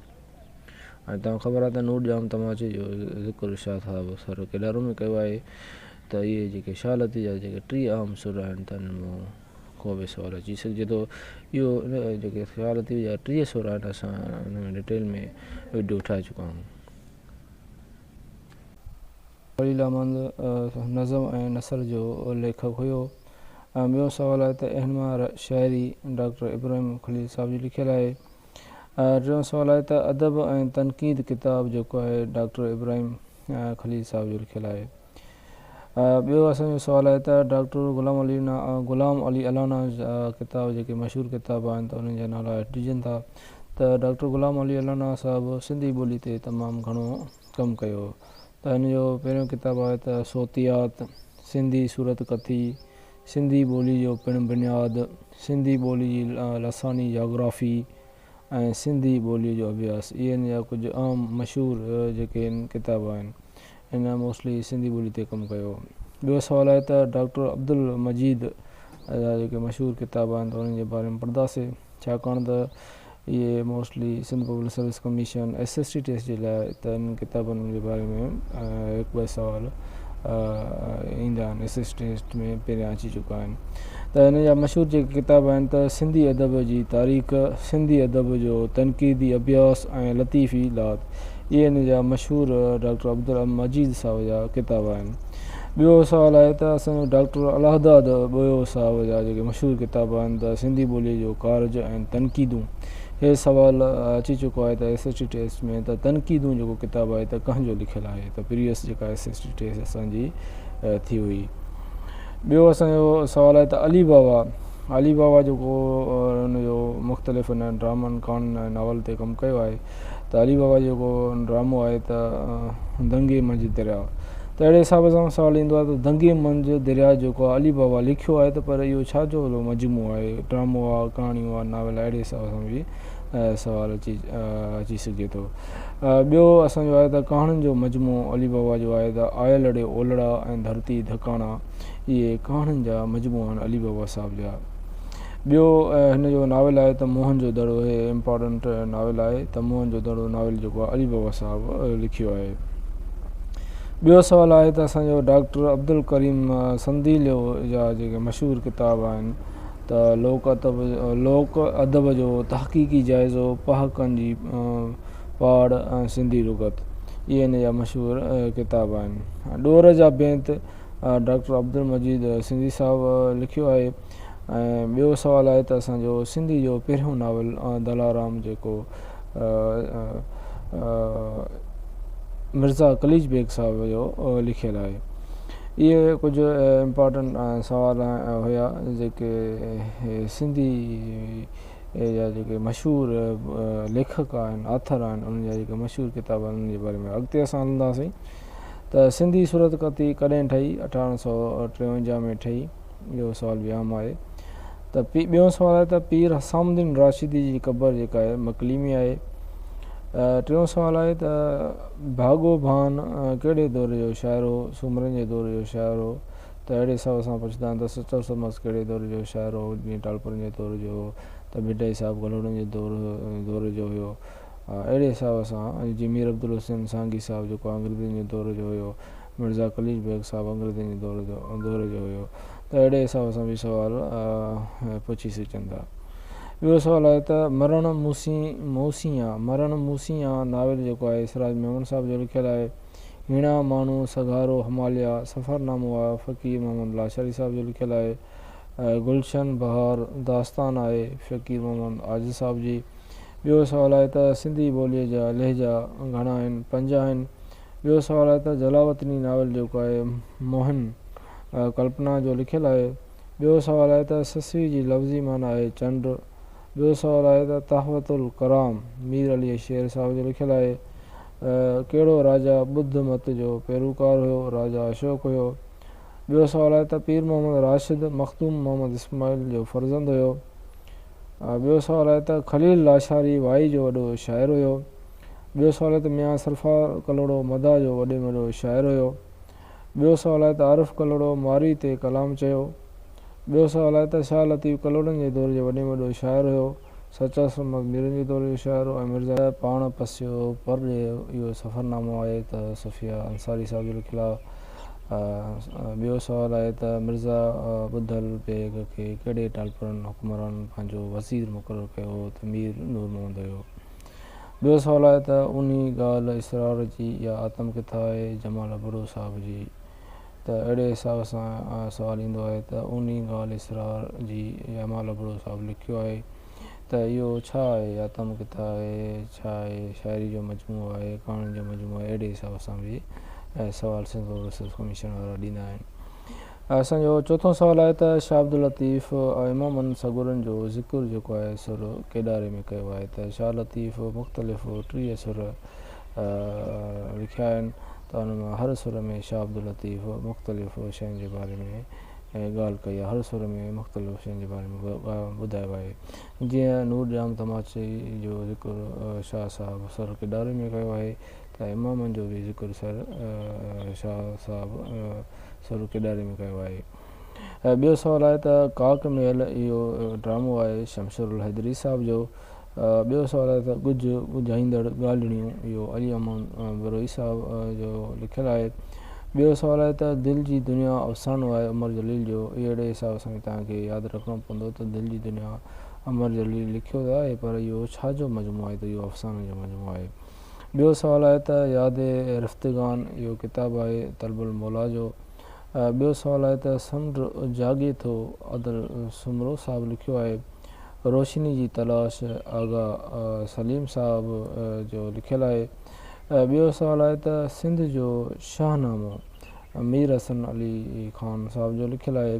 ۽ توهان خبر آهي ته نور ڄام تماچي جو ذڪر شاهه صاحب سر ڪيڏارو ۾ ڪيو آهي ته اهي جيڪي شاهه لطيف جا جيڪي ٽي عام سر آهن ته ان مون ڪو به سوال اچي سگهجي ٿو اهو جيڪي شاهه لطيف جا ٽي سر آهن اسان ان ۾ ڊيٽيل ۾ وڊيو ٺاهي چڪا آهيون خليل احمد نظم ۽ نثر جو ليکڪ هيو. ۽ ٻيو سوال آهي ته اهنوار شاعري ڊاڪٽر ابراهيم خليل صاحب جي لکيل آهي. ٽيون سوال آهي ته ادب ۽ تنقيد ڪتاب جيڪو آهي ڊاڪٽر ابراهيم خليل صاحب جو لکيل آهي. ٻيو اسان جو سوال آهي ته ڊاڪٽر غلام علي غلام علي الانا جا ڪتاب جيڪي مشهور ڪتاب آهن ته انهن جا نالا هيٺ ڏجن ٿا ته ڊاڪٽر غلام علي الانا صاحب سنڌي ٻولي تي تمام گهڻو ڪم ڪيو ته هن جو پهريون ڪتاب آهي ته صوتيات، سنڌي صورت ڪٿي، سنڌي ٻولي جو پڻ بنياد، سنڌي ٻولي جي لساني جاگرافي ۽ سنڌي ٻولي جو اڀياس اهي هن جا ڪجهه اهم مشهور جيڪي ڪتاب آهن هن موسٽلي سنڌي ٻولي تي ڪم ڪيو. ٻيو سوال آهي ته ڊاڪٽر عبدالمجيد جا جيڪي مشهور ڪتاب آهن ته انهن جي باري ۾ پڙهنداسين. ڇاڪاڻ ته اهي mostly Sindh public service commission S S T test جي لاء ته انهن ڪتابن جي باري ۾ هڪ ٻه سوال ايندا آهن ايس ايس ٽي ٽيسٽ ۾ پهريان اچي چڪا آهن ته هن جا مشهور جيڪي ڪتاب آهن ته سنڌي ادب جي تاريخ سنڌي ادب جو تنقيدي اڀياس ۽ لطيفي لات اهي هن جا مشهور ڊاڪٽر عبدالمجيد صاحب جا ڪتاب آهن ٻيو سوال آهي ته اسان جو ڊاڪٽر الهداد ٻوهيو صاحب جا جيڪي مشهور ڪتاب آهن ته سنڌي ٻوليء جو ڪارج ۽ تنقيدون هي سوال اچي چڪو آهي ته ايس ايس ٽي ٽيسٽ ۾ ته تنقيدون جيڪو ڪتاب آهي ته ڪنهن جو لکيل آهي ته پريويس جيڪا ايس ايس ٽي ٽيسٽ اسان جي ٿي هئي ٻيو اسان جو سوال آهي ته علي بابا علي بابا جيڪو ان جو مختلف ان ڊرامن ڪهاڻين ۽ ناول تي ڪم ڪيو آهي ته علي بابا جيڪو ڊرامو آهي ته دنگي منجهه درياء ته اهڙي حساب سان سوال ايندو آهي ته دنگي منجهه درياء جيڪو آهي علي بابا لکيو آهي ته پر اهو ڇا جو هيڏو مجموعو آهي ڊرامو آهي ڪهاڻيون آهي ناول آهي اهڙي حساب سان به سوال اچي اچي سگهي ٿو ٻيو اسان جو آهي ته ڪهاڻين جو مجموعو علي بابا جو آهي ته آيل اڙي اولڙا ۽ ڌرتي ڌڪاڻا اهي ڪهاڻين جا مجموعا آهن علي بابا صاحب جا ٻيو هن جو ناول آهي ته موهن جو دڙو هي امپارٽنٽ ناول آهي ته موهن جو دڙو ناول جيڪو آهي علي بابا صاحب لکيو آهي ٻيو سوال آهي ته اسان جو ڊاڪٽر عبدالڪريم سنديليو جا جيڪي مشهور ڪتاب آهن ته لوڪ ادب لوڪ ادب جو تحقيقي جائزو پهاڪن جي پاڙ ۽ سنڌي لغت اهي هن جا مشهور ڪتاب آهن ڏور جا بيت ڊاڪٽر عبدالمجيد سنڌي صاحب لکيو آهي ۽ ٻيو سوال آهي ته اسان جو سنڌي جو پهريون ناول دلارام جيڪو مرزا قليچ بيگ صاحب جو لکيل آهي اهي ڪجهه امپارٽنٽ سوال هيا جيڪي سنڌي جا جيڪي مشهور ليکڪ آهن آٿر آهن انهن جا جيڪي مشهور ڪتاب آهن انهن جي باري ۾ اڳتي اسان هلنداسين ته سنڌي صورتخطي ڪڏهن ٺهي اٺارهن سو ٽيونجاهه ۾ ٺهي اهو سوال به عام آهي ته ٻيون سوال آهي ته پير حسام الدين راشدي جي قبر جيڪا آهي مڪلي ۾ آهي ٽيون سوال آهي ته ڀاڳو ڀان ڪهڙي دور جو شاعر هو سومرن جي دور جو شاعر هو ته اهڙي حساب سان پڇندا آهن ته سچل سمس ڪهڙي دور جو شاعر هو جيئن ٽالپرن جي دور جو هو ته ڀٽائي صاحب گلهوڙن جي دور دور جو هيو اهڙي حساب سان جي مير عبدالحسين سانگي صاحب جيڪو انگريزن جي دور جو هيو مرزا قليچ بيگ صاحب انگريزن جي دور جو دور جو هيو ته اهڙي حساب سان به سوال پڇي سگهجن ٿا. ٻيو سوال آهي ته مرڻ موسي موسي آن مرڻ موسي آن ناول جيڪو آهي سراج ميمڻ صاحب جو لکيل آهي. هيڻا، ماڻهو، سگهارو، هماليا، سفرنامو آء فقير محمد لاشاري صاحب جو لکيل آهي. گلشن بهار داستان آهي فقير محمد عاجز صاحب جي. ٻيو سوال آهي ته سنڌي ٻوليء جا لهجا گهڻا آهن، پنج آهن. ٻيو سوال آهي ته جلاوطني ناول جيڪو آهي موهن ڪلپنا جو لکيل آهي. ٻيو سوال آهي ته سسوي جي لفظي معنيٰ آهي چنڊ. ٻيو سوال آهي ته تحفة الڪرام مير علي شير صاحب جو لکيل آهي. ڪهڙو راجا ٻڌ مت جو پيروڪار هيو؟ راجا اشوڪ هيو. ٻيو سوال آهي ته پير محمد راشد مخدوم محمد اسماعيل جو فرزند هيو. ٻيو سوال آهي ته خليل لاشاري وائي جو وڏو شاعر هيو. ٻيو سوال ته ميان سرفا ڪلهوڙو مداح جو وڏي ۾ وڏو شاعر هيو. ٻيو سوال آهي ته عارف ڪلهوڙو مارئي تي ڪلام چيو. ٻيو سوال آهي ته شاهه لطيف ڪلهوڙن جي دور جو وڏي ۾ وڏو شاعر هيو. سچا سرمد ميرن جي دور جو شاعر هو ۽ مرزا. پاڻ پسيو پر ڏي اهو سفرنامو آهي ته صفيه انصاري صاحب جو لکيل آهي. ٻيو سوال آهي ته مرزا ٻڌل بيگ کي ڪهڙي ٽالپرن حڪمرانن پنهنجو وزير مقرر ڪيو هو ته مير نور محمد هيو. ٻيو سوال آهي ته انهي ڳالهه اسرار جي اها آتم ڪٿا آهي جمال ابڙو صاحب جي ته اهڙي حساب سان سوال ايندو آهي ته انهي ڳالهه اسرار جي جمال ابڙو صاحب لکيو آهي ته اهو ڇا آهي آتم ڪٿا آهي ڇا آهي شاعري جو مجموعو آهي ڪهاڻين جو مجموعو آهي اهڙي حساب سان به سوال سنڌ اوورسيز ڪميشن وارا ڏيندا آهن اسان جو چوٿون سوال آهي ته شاهه عبداللطيف امامن سڳورن جو ذڪر جيڪو آهي سر ڪيڏاري ۾ ڪيو آهي ته شاهه لطيف مختلف ٽيهه سر لکيا آهن ته انهن مان هر سر ۾ شاهه عبداللطيف مختلف شين جي باري ۾ ڳالهه ڪئي آهي هر سر ۾ مختلف شين جي باري ۾ ٻڌايو آهي جيئن نور ڄام تماچي جو ذڪر شاهه صاحب سر ڪيڏاري ۾ ڪيو آهي ته امامن جو به ذڪر سر شاهه صاحب سرو ڪيڏاري ۾ ڪيو آهي. ٻيو سوال آهي ته ڪاڪ ميل اهو ڊرامو آهي شمشير الحيدري صاحب جو. ٻيو سوال آهي ته ڳجهه ڳجهائيندڙ ڳالهڙيون اهو علي امان بروهي صاحب جو لکيل آهي. ٻيو سوال آهي ته دل جي دنيا افسانو آهي عمر جليل جو. اهڙي حساب سان توهان کي ياد رکڻو پوندو ته دل جي دنيا عمر جليل لکيو ته آهي پر اهو ڇا جو مجموعو آهي ته اهو افسانن جو مجموعو آهي. ٻيو سوال آهي ته ياد رفتگان اهو ڪتاب آهي طلب الموليٰ جو. ٻيو سوال آهي ته سمنڊ جاڳي ٿو عدل سومرو صاحب لکيو آهي. روشني جي تلاش آغا سليم صاحب جو لکيل آهي. ٻيو سوال آهي ته سنڌ جو شاهنامو مير حسن علي خان صاحب جو لکيل آهي.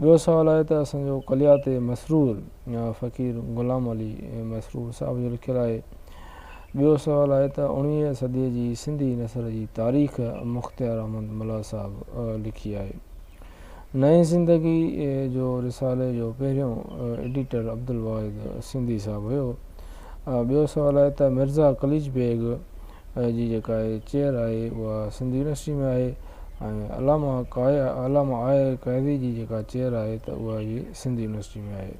ٻيو سوال آهي ته اسان جو ڪليات مسرور فقير غلام علي مسرور صاحب جو لکيل آهي. ٻيو سوال آهي ته اوڻويهين صديء جي سنڌي نثر جي تاريخ مختيار احمد ملاح صاحب لکي آهي. نئين زندگي جو رسالي جو پهريون ايڊيٽر عبدالواحد سنڌي صاحب هيو. ٻيو سوال آهي ته مرزا قليچ بيگ اهي جي جيڪا اهي چيئر آهي اها سنڌ يونيورسٽي ۾ آهي ۽ علامه قايا علامه آء قاضي جي جيڪا چيئر آهي ته اها به سنڌ يونيورسٽي ۾ آهي.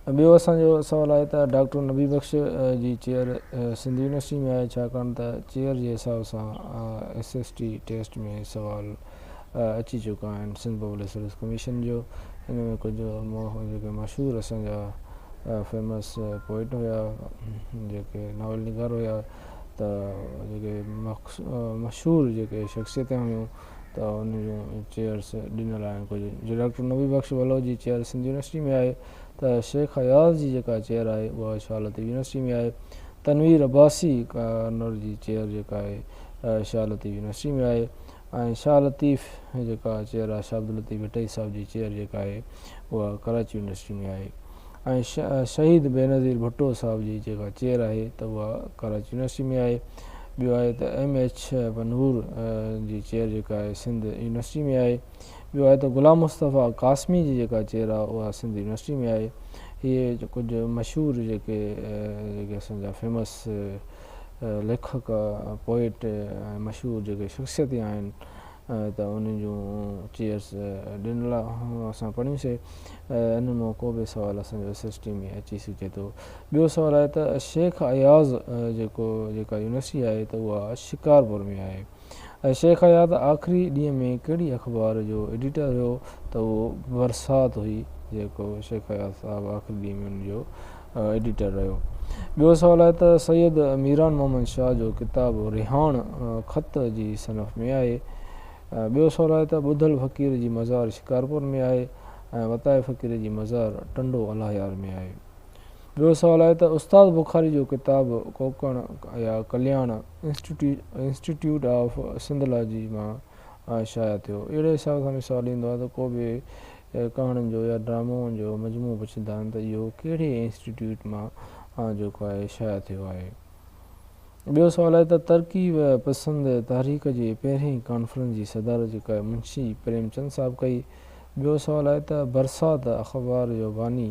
۽ ٻيو اسان جو سوال آهي ته ڊاڪٽر نبي بخش جي چيئر سنڌ يونيورسٽي ۾ آهي ڇاڪاڻ ته چيئر جي حساب سان ايس ايس ٽي ٽيسٽ ۾ سوال اچي چڪا آهن سنڌ پبلڪ سروس ڪميشن جو ان ۾ ڪجهه جيڪي مشهور اسان جا فيمس پوئٽ هيا جيڪي ناول نگار هيا ته جيڪي مشهور جيڪي شخصيتون هيون ته ان جون چيئرس ڏنل آهن ڪجهه جي ڊاڪٽر نبي بخش بلوچ جي چيئر سنڌ يونيورسٽي ۾ آهي ته شيخ اياز جي جيڪا چيئر آهي اها شاهه لطيف يونيورسٽي ۾ آهي تنوير عباسي ڪارنر جي چيئر جيڪا آهي شاهه لطيف يونيورسٽي ۾ آهي ۽ شاهه لطيف جيڪا چيئر آهي شاهه عبداللطيف ڀٽائي صاحب جي چيئر جيڪا آهي اها ڪراچي يونيورسٽي ۾ آهي ۽ شهيد بينظير ڀٽو صاحب جي جيڪا چيئر آهي ته اها ڪراچي يونيورسٽي ۾ آهي ٻيو آهي ته ايم ايڇ بنور جي چيئر جيڪا آهي سنڌ يونيورسٽي ۾ آهي ٻيو آهي ته غلام مصطفيٰ قاسمي جي جيڪا چيئر آهي اها سنڌ يونيورسٽي ۾ آهي هي ڪجهه مشهور جيڪي جيڪي اسان جا فيمس ليکڪ، پوئٽ ۽ مشهور جيڪي شخصيتي آهن ته انهن جون چيئرس ڏنل اسان پڙهيون سي ان مان ڪو به سوال اسان جو ايس ايس ٽي ۾ اچي سگهي ٿو. ٻيو سوال آهي ته شيخ اياز جيڪو جيڪا يونيورسٽي آهي ته اها شڪارپور ۾ آهي. شيخ اياز آخري ڏينهن ۾ ڪهڙي اخبار جو ايڊيٽر هيو ته اهو برسات هئي جيڪو شيخ اياز صاحب آخري ڏينهن ۾ ان جو ايڊيٽر رهيو. ٻيو سوال آهي ته سيد ميران محمد شاهه جو ڪتاب رهاڻ خط جي صنف ۾ آهي. ٻيو سوال آهي ته ٻڌل فقير جي مزار شڪارپور ۾ آهي ۽ وتائي فقير جي مزار ٽنڊو الاهيار ۾ آهي. ٻيو سوال آهي ته استاد بخاري جو ڪتاب ڪوڪڻ يا ڪلياڻ انسٽيٽيوٽ آف سنڌالاجي مان شايع ٿيو. اهڙي حساب سان به سوال ايندو آهي ته ڪو به ڪهاڻين جو يا ڊرامائن جو مجموعو پڇندا آهن ته اهو ڪهڙي انسٽيٽيوٽ مان جيڪو آهي شايع ٿيو آهي. ٻيو سوال آهي ته ترقي پسند تحريڪ جي پهرين ڪانفرنس جي صدارت جيڪا آهي منشي پريم چند صاحب ڪئي. ٻيو سوال آهي ته برسات اخبار جو باني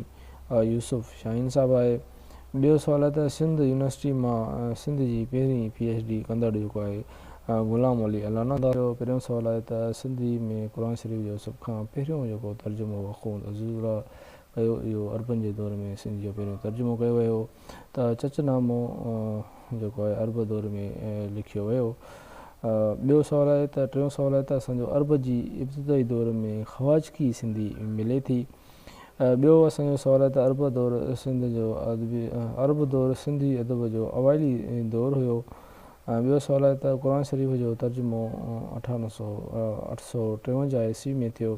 يوسف شاهين صاحب آهي. ٻيو سوال آهي ته سنڌ يونيورسٽي مان سنڌ جي پهرين پي ايڇ ڊي ڪندڙ جيڪو آهي غلام علي الانا ٿا چئو. پهريون سوال آهي ته سنڌي ۾ قرآن شريف جو سڀ کان پهريون جيڪو ترجمو اخوند عزيز الله ڪيو اهو عربن جي دور ۾ سنڌ جو پهريون ترجمو ڪيو ويو ته چچ نامو جيڪو آهي عرب دور ۾ لکيو ويو. ٻيو سوال آهي ته ٽيون سوال آهي ته اسان جو عرب جي ابتدائي دور ۾ خواجڪي سنڌي ملي ٿي. ٻيو اسان جو سوال آهي ته عرب دور سنڌ جو ادبي عرب دور سنڌي ادب جو اوائلي دور هيو ۽ ٻيو سوال آهي ته قرآن شريف جو ترجمو اٺا نو سو اٺ سو ٽيونجاهه عيسوي ۾ ٿيو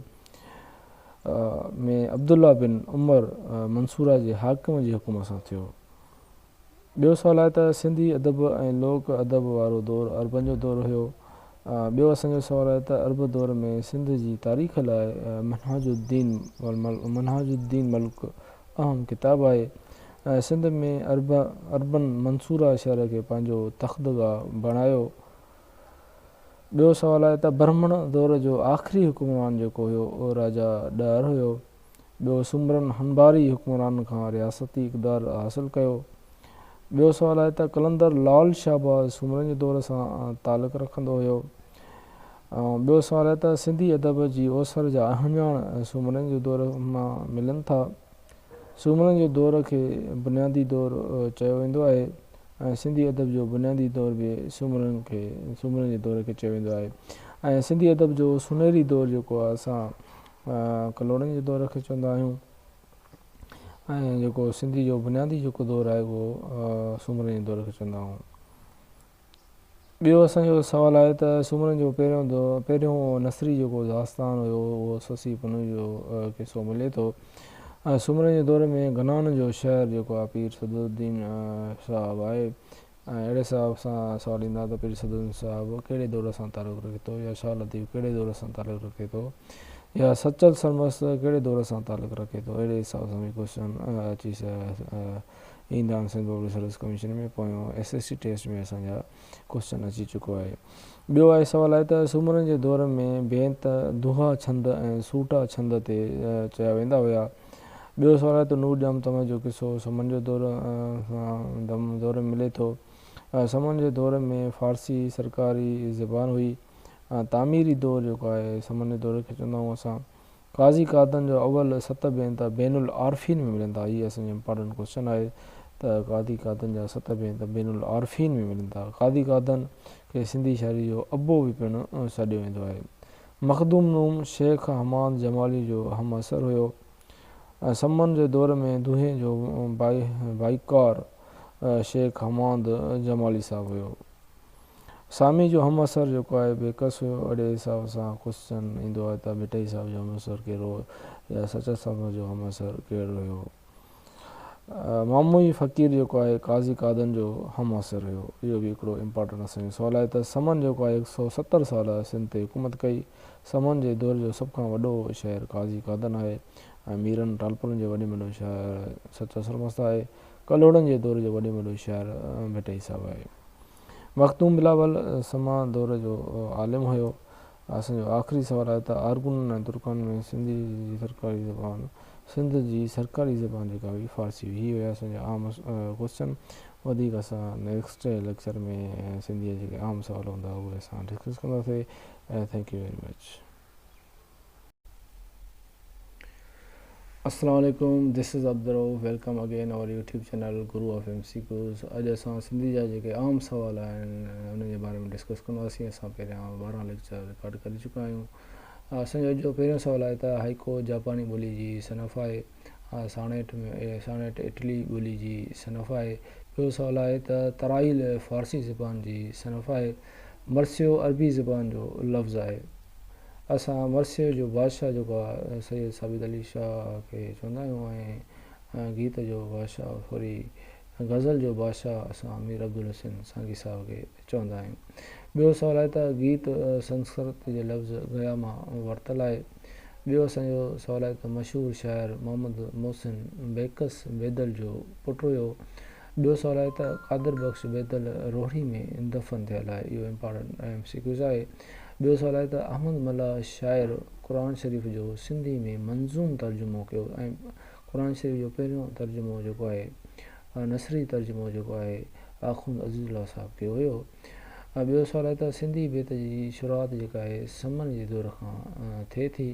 ۾ عبدالله بن عمر منصوره جي حاڪم جي حڪم سان ٿيو. ٻيو سوال آهي ته سنڌي ادب ۽ لوڪ ادب وارو دور عربن جو دور هيو. ٻيو اسان جو سوال آهي ته عرب دور ۾ سنڌ جي تاريخ لاء منهاج الدين منهاج الدين ملڪ اهم ڪتاب آهي. سنڌ ۾ عرب عربن منصوره شهر کي پنهنجو تختگاهه بڻايو. ٻيو سوال آهي ته برهمڻ دور جو آخري حڪمران جيڪو هيو اهو راجا ڏهر هيو. ٻيو سومرن هنباري حڪمرانن کان رياستي اقدار حاصل ڪيو. ٻيو سوال آهي ته قلندر لعل شهباز سومرن جي دور سان تعلق رکندو هيو. ٻيو سوال آهي ته سنڌي ادب جي اوسر جا اهڃاڻ سومرن جي دور مان ملن ٿا. سومرن جي دور کي بنيادي دور چيو ويندو آهي ۽ سنڌي ادب جو بنيادي دور به سومرن کي سومرن جي دور کي چيو ويندو آهي ۽ سنڌي ادب جو سنهري دور جيڪو اسان ڪلهوڙن جي دور کي چوندا آهيون ۽ جيڪو سنڌي جو بنيادي جيڪو دور آهي اهو سومرن جي دور کي چوندا آهيون ٻيو اسان جو سوال آهي ته سومرن جو پهريون دور پهريون نثري جيڪو داستان هيو اهو سسي پنهون جو قصو ملي ٿو سومرن جي دور ۾ گنان جو شهر جيڪو آهي پير صدر الدين صاحب آهي ۽ اهڙي سبب سان سوال ايندا ته پير سدوزن صاحب ڪهڙي دور سان تعلق رکي ٿو يا شاهه لطيف ڪهڙي دور سان تعلق رکي ٿو يا سچل سرمست ڪهڙي دور سان تعلق رکي ٿو اهڙي حساب سان به ڪوشچن اچي ايندا آهن سنڌ پبلڪ سروس ڪميشن ۾ پويون ايس ايس سي ٽيسٽ ۾ اسان جا ڪوشچن اچي چڪو آهي ٻيو آهي سوال آهي ته سومرن جي دور ۾ بينت دوها ڇند ۽ سوٽا ڇند تي چيا ويندا هيا ٻيو سوراء ته نور ڄام تمل جو قصو هو. سمن جو دور ۾ دور ۾ ملي ٿو. سمن جي دور ۾ فارسي سرڪاري زبان هئي. تعميري دور جيڪو آهي سمن جي دور کي چوندا آهيون اسان. قاضي قادن جو اول ست بينت بين العارفين ۾ ملن ٿا. هي اسان جي امپارٽنٽ ڪوسچن آهي ته قاضي قادن جا ست بينت بين العارفين ۾ ملن ٿا. قاضي قادن کي سنڌي شاعري جو ابو به پڻ سڏيو ويندو آهي. مخدوم نوم شيخ حماد جمالي جو هم عصر هيو ۽ سمن جي دور ۾ دونهي جو ڀائيڪار شيخ حماد جمالي صاحب هيو. سامي جو هم عصر جيڪو آهي بيڪس هيو. اهڙي حساب سان ڪوسچن ايندو آهي ته ڀٽائي صاحب جو هم عصر ڪهڙو هو يا سچل سمن جو هم عصر ڪهڙو هيو. ماموئي فقير جيڪو آهي قاضي قادن جو همعصر هيو. اهو به هڪڙو امپارٽنٽ اسان جو سوال آهي ته سمن جيڪو آهي هڪ سؤ ستر سال سنڌ تي حڪومت ڪئي. سمن جي دور جو سڀ کان وڏو شاعر قاضي قادن آهي ۽ ميرن ٽالپرن جو وڏي ۾ وڏو شاعر سچو سرمست آهي. ڪلهوڙن جي دور جو وڏي ۾ وڏو شاعر ڀٽائي صاحب آهي. مخدوم بلاول سما دور جو عالم هيو. اسان جو آخري سوال آهي ته آرگونن ۽ ترڪان ۾ سنڌي جي سرڪاري زبان سنڌ جي سرڪاري زبان جيڪا هئي فارسي هئي. هي هيا اسان جا عام ڪوسچن وڌيڪ اسان نيڪسٽ ليڪچر ۾ سنڌي جا جيڪي عام سوال هوندا اهي اسان ڊسڪس ڪنداسي ٿينڪ يو ويري مچ. السلام عليڪم this is Abdul Rauf welcome again اور YouTube channel guru of M C Qs اڄ اسان سنڌي جا جيڪي عام سوال آهن انهن جي باري ۾ ڊسڪس ڪنداسين اسان پهريان ٻارهن ليڪچر رڪارڊ ڪري چڪا آهيون اسان جو اڄ جو پهريون سوال آهي ته هائيڪو جاپاني ٻولي جي صنف آهي ساڻيٽ ۾ ساڻيٽ اٽلي ٻولي جي صنف آهي ٻيو سوال آهي ته ترائيل فارسي زبان جي صنف آهي مرثيو عربي زبان جو لفظ آهي اسان مرثيو جو بادشاهه جيڪو آهي سيد ثابت علي شاهه کي چوندا آهيون ۽ گيت جو بادشاهه سوري غزل جو بادشاهه اسان مير عبدالحسين سانگي صاحب کي چوندا آهيون. ٻيو سوال آهي ته گيت سنسڪرت جي لفظ گيا مان ورتل آهي. ٻيو اسان جو سوال آهي ته مشهور شاعر محمد محسن بيڪس بيدل جو پٽ هيو. ٻيو سوال آهي ته قادر بخش بيدل روهڙي ۾ دفن ٿيل آهي اهو امپارٽنٽ ايم سي ڪيوز آهي ٻيو سوال آهي ته احمد ملاح شاعر قرآن شريف جو سنڌي ۾ منظوم ترجمو ڪيو ۽ قرآن شريف جو پهريون ترجمو جيڪو آهي نثري ترجمو جيڪو آهي آخوند عزيز الله صاحب ڪيو هيو ٻيو سوال آهي ته سنڌي بيت جي شروعات جيڪا آهي سمن جي دور کان ٿئي ٿي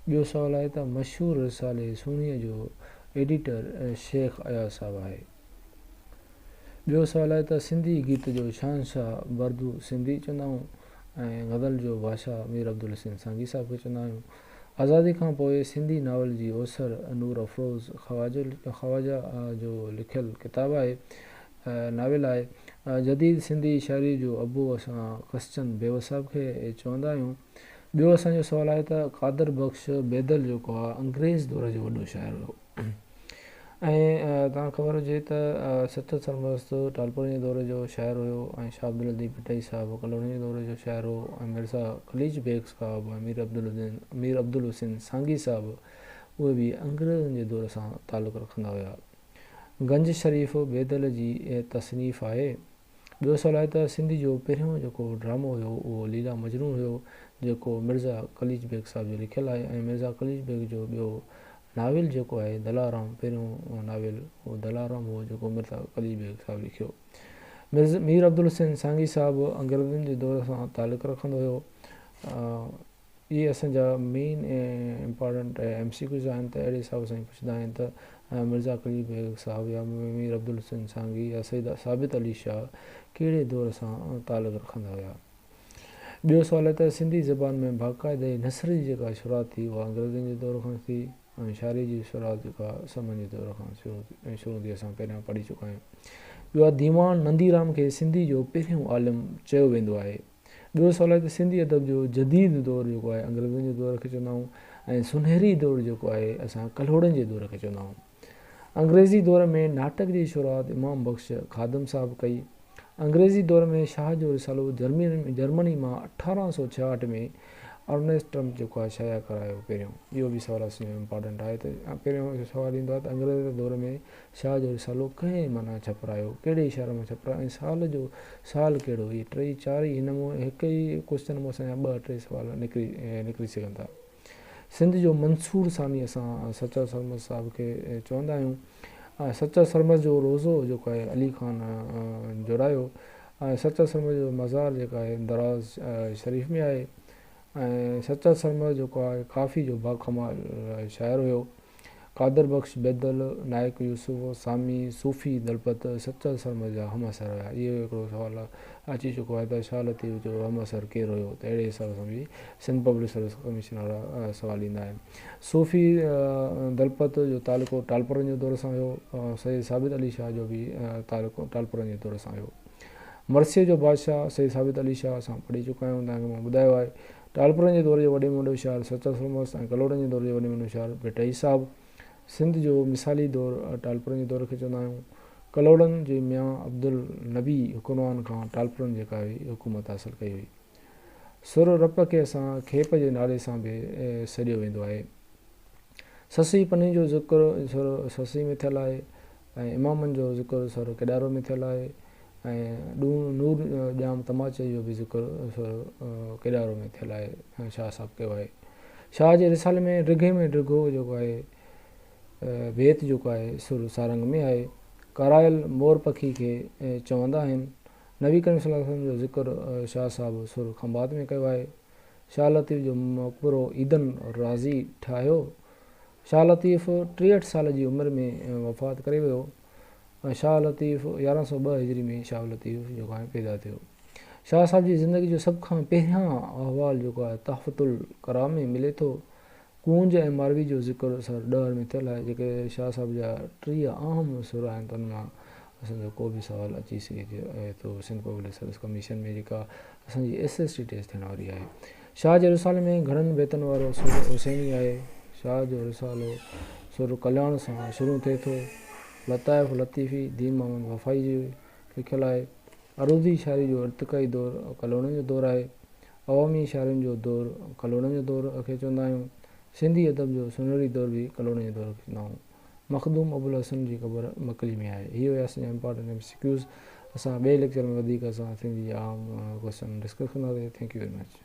ٻيو سوال آهي ته مشهور رسالي سهڻيء جو ايڊيٽر، شيخ اياز صاحب آهي. ٻيو سوال آهي ته سنڌي گيت جو شهنشاهه بردو سنڌي چوندا آهيون ۽ غزل جو بادشاهه مير عبدالحسين سانگي صاحب کي چوندا آهيون. آزادي کان پوء سنڌي ناول جي اوسر نور افروز خواجه جو لکيل ڪتاب آهي، ناول آهي. جديد سنڌي شاعري جو ابو اسان ڪسچن بيوس صاحب کي چوندا آهيون. ٻيو اسان جو سوال آهي ته قادر بخش بيدل جيڪو آهي انگريز دور جو وڏو شاعر هو ۽ توهان کي خبر هجي ته سچل سرمست ٽالپرن جي دور جو شاعر هيو ۽ شاهه عبداللطيف ڀٽائي صاحب ڪلهوڙن جي دور جو شاعر هو ۽ مرزا قليچ بيگ صاحب ۽ مير عبدالدين مير عبدالحسين سانگي صاحب اهي به انگريزن جي دور سان تعلق رکندا هيا گنج شريف بيدل جي تصنيف آهي ٻيو سوال آهي ته سنڌ جو پهريون جيڪو ڊرامو هيو اهو ليلا مجنون هيو جيڪو مرزا قليچ بيگ صاحب جو لکيل آهي ۽ مرزا قليچ بيگ جو ٻيو ناول جيڪو آهي دلارام پهريون ناول اهو دلارام هو جيڪو مرزا قليچ بيگ صاحب لکيو مير عبدالحسين سانگي صاحب انگريزن جي دور سان تعلق رکندو هيو اهي اسان جا main important M C Qs آهن ته اهڙي حساب سان ئي پڇندا آهن ته مرزا قلي بيگ صاحب يا مير عبدالحسين سانگي يا سيد ثابت علي شاهه ڪهڙي دور سان تعلق رکندا هيا. ٻيو سوال هي ته سنڌي زبان ۾ باقاعده هي نثر جي جيڪا شروعات ٿي اها انگريزن جي دور کان ٿي ۽ شاعري جي شروعات جيڪا سمن جي دور کان شروع ٿي اسان پهريان پڙهي چڪا آهيون. ٻيو آهي ديوان نندي رام کي سنڌي جو پهريون عالم چيو ويندو آهي. ٻيو سوال آهي ته سنڌي ادب جو جديد دور جيڪو آهي انگريزن جي دور کي چوندا آهيون ۽ سونهري دور جيڪو آهي اسان ڪلهوڙن جي دور کي چوندا آهيون. انگريزي دور ۾ ناٽڪ جي شروعات امام بخش خادم صاحب ڪئي. انگريزي دور ۾ شاهه جو رسالو جرمني مان اٺارهن سؤ ڇهاهٺ ۾ ارنيسٽ ٽرمپ جيڪو آهي شايع ڪرايو پهريون اهو به سوال اسان جو امپارٽنٽ آهي ته پهريون سوال ايندو آهي ته انگريز دور ۾ شاهه جو رسالو ڪنهن معنيٰ ڇپرايو، ڪهڙي شهر مان ڇپرايو ۽ سال جو سال ڪهڙو؟ اهي ٽيئي چار ئي هن مون هڪ ئي ڪوشچن مون اسان جا ٻه ٽي سوال نڪري نڪري سگهن ٿا. سنڌ جو منصور ثاني اسان سچل سرمست صاحب کي چوندا آهيون. سچل سرمست جو روضو جيڪو آهي علي خان جوڙايو ۽ سچل سرمست جو مزار جيڪو آهي دراز شريف ۾ آهي ۽ سچل سرمست جيڪو آهي ڪافي جو باڪمال شاعر هيو. قادر بخش بيدل، نائيڪ يوسف، سامي، صوفي دلپت، سچل سرمد جا همعصر هيا. اهو هڪڙو سوال اچي چڪو آهي ته شاهه لطيف جو همعصر ڪير هيو ته اهڙي حساب سان به سنڌ پبلڪ سروس ڪميشن وارا سوال ايندا آهن. صوفي دلپت جو تعلقو ٽالپرن جي دور سان هيو. سيد ثابت علي شاهه جو به تعلقو ٽالپرن جي دور سان هيو. مرثيه جو بادشاهه سيد ثابت علي شاهه اسان پڙهي چڪا آهيون توهان کي مان ٻڌايو آهي ٽالپرن جي دور جو وڏي ۾ وڏو شهر ستر سرمست ۽ ڪلهوڙن جي دور جو وڏي ۾ وڏو شهر ڀٽائي صاحب. سنڌ جو مثالي دور ٽالپرن جي دور کي چوندا آهيون. ڪلهوڙن جي ميان عبدالنبي حڪمران کان ٽالپرن جيڪا هئي حڪومت حاصل ڪئي هئي. سر رپ کي اسان کيپ جي نالي سان به سڏيو ويندو آهي. سسئي پني جو ذڪر سر سسئي ۾ ٿيل آهي. ۽ امامن جو ذڪر سورة ڪيڏارو ۾ ٿيل آهي ۽ ڏون نور ڄام تماچي جو به ذڪر سورة ڪيڏارو ۾ ٿيل آهي شاهه صاحب ڪيو آهي شاهه جي رسالي ۾ ڊگهي ۾ ڊگهو جيڪو آهي بيت جيڪو آهي سورة سارنگ ۾ آهي ڪارايل مور پکي کي چوندا آهن نبي ڪريم صلي الله عليه وسلم جو ذڪر شاهه صاحب سورة خنبات ۾ ڪيو آهي شاهه لطيف جو مقبرو عيدن رازي ٺاهيو شاهه لطيف ٽيهٺ سال جي عمر ۾ وفات ڪري ويو. شاهه لطيف يارهن سؤ ٻه هجري ۾ شاهه لطيف جيڪو آهي پيدا ٿيو. شاهه صاحب جي زندگي جو سڀ کان پهريان احوال جيڪو آهي تحفة الڪرام ۾ ملي ٿو. ڪونج ۽ ماروي جو ذڪر سر ڏهر ۾ ٿيل آهي. جيڪي شاهه صاحب جا ٽيهه اهم سر آهن تن مان اسان جو ڪو به سوال اچي سگهي ٿو. سنڌ پبلڪ سروس ڪميشن ۾ جيڪا اسان جي ايس ايس ٽي ٽيسٽ ٿيڻ واري آهي شاهه جي رسالي ۾ گهڻن بيتن وارو سر حسيني آهي شاهه جو رسالو سر ڪلياڻ سان شروع ٿئي ٿو لطائف لطيفي دين محمد وفائي جي لکيل آهي عروضي شاعري جو ارتقائي دور ڪلوڙن جو دور آهي عوامي شاعرين جو دور ڪلوڙن جو دور کي چوندا آهيون سنڌي ادب جو سنهري دور به ڪلوڙن جي دور کي چوندا آهيون مخدوم ابوالحسن جي قبر مڪلي ۾ آهي. هي هيا اسان جا امپارٽنٽ ايم سي ڪيوز. اسان ٻئي ليڪچر ۾ وڌيڪ اسان سنڌي جي عام ڪوئسچن ڊسڪس ڪنداسين. Thank you very much.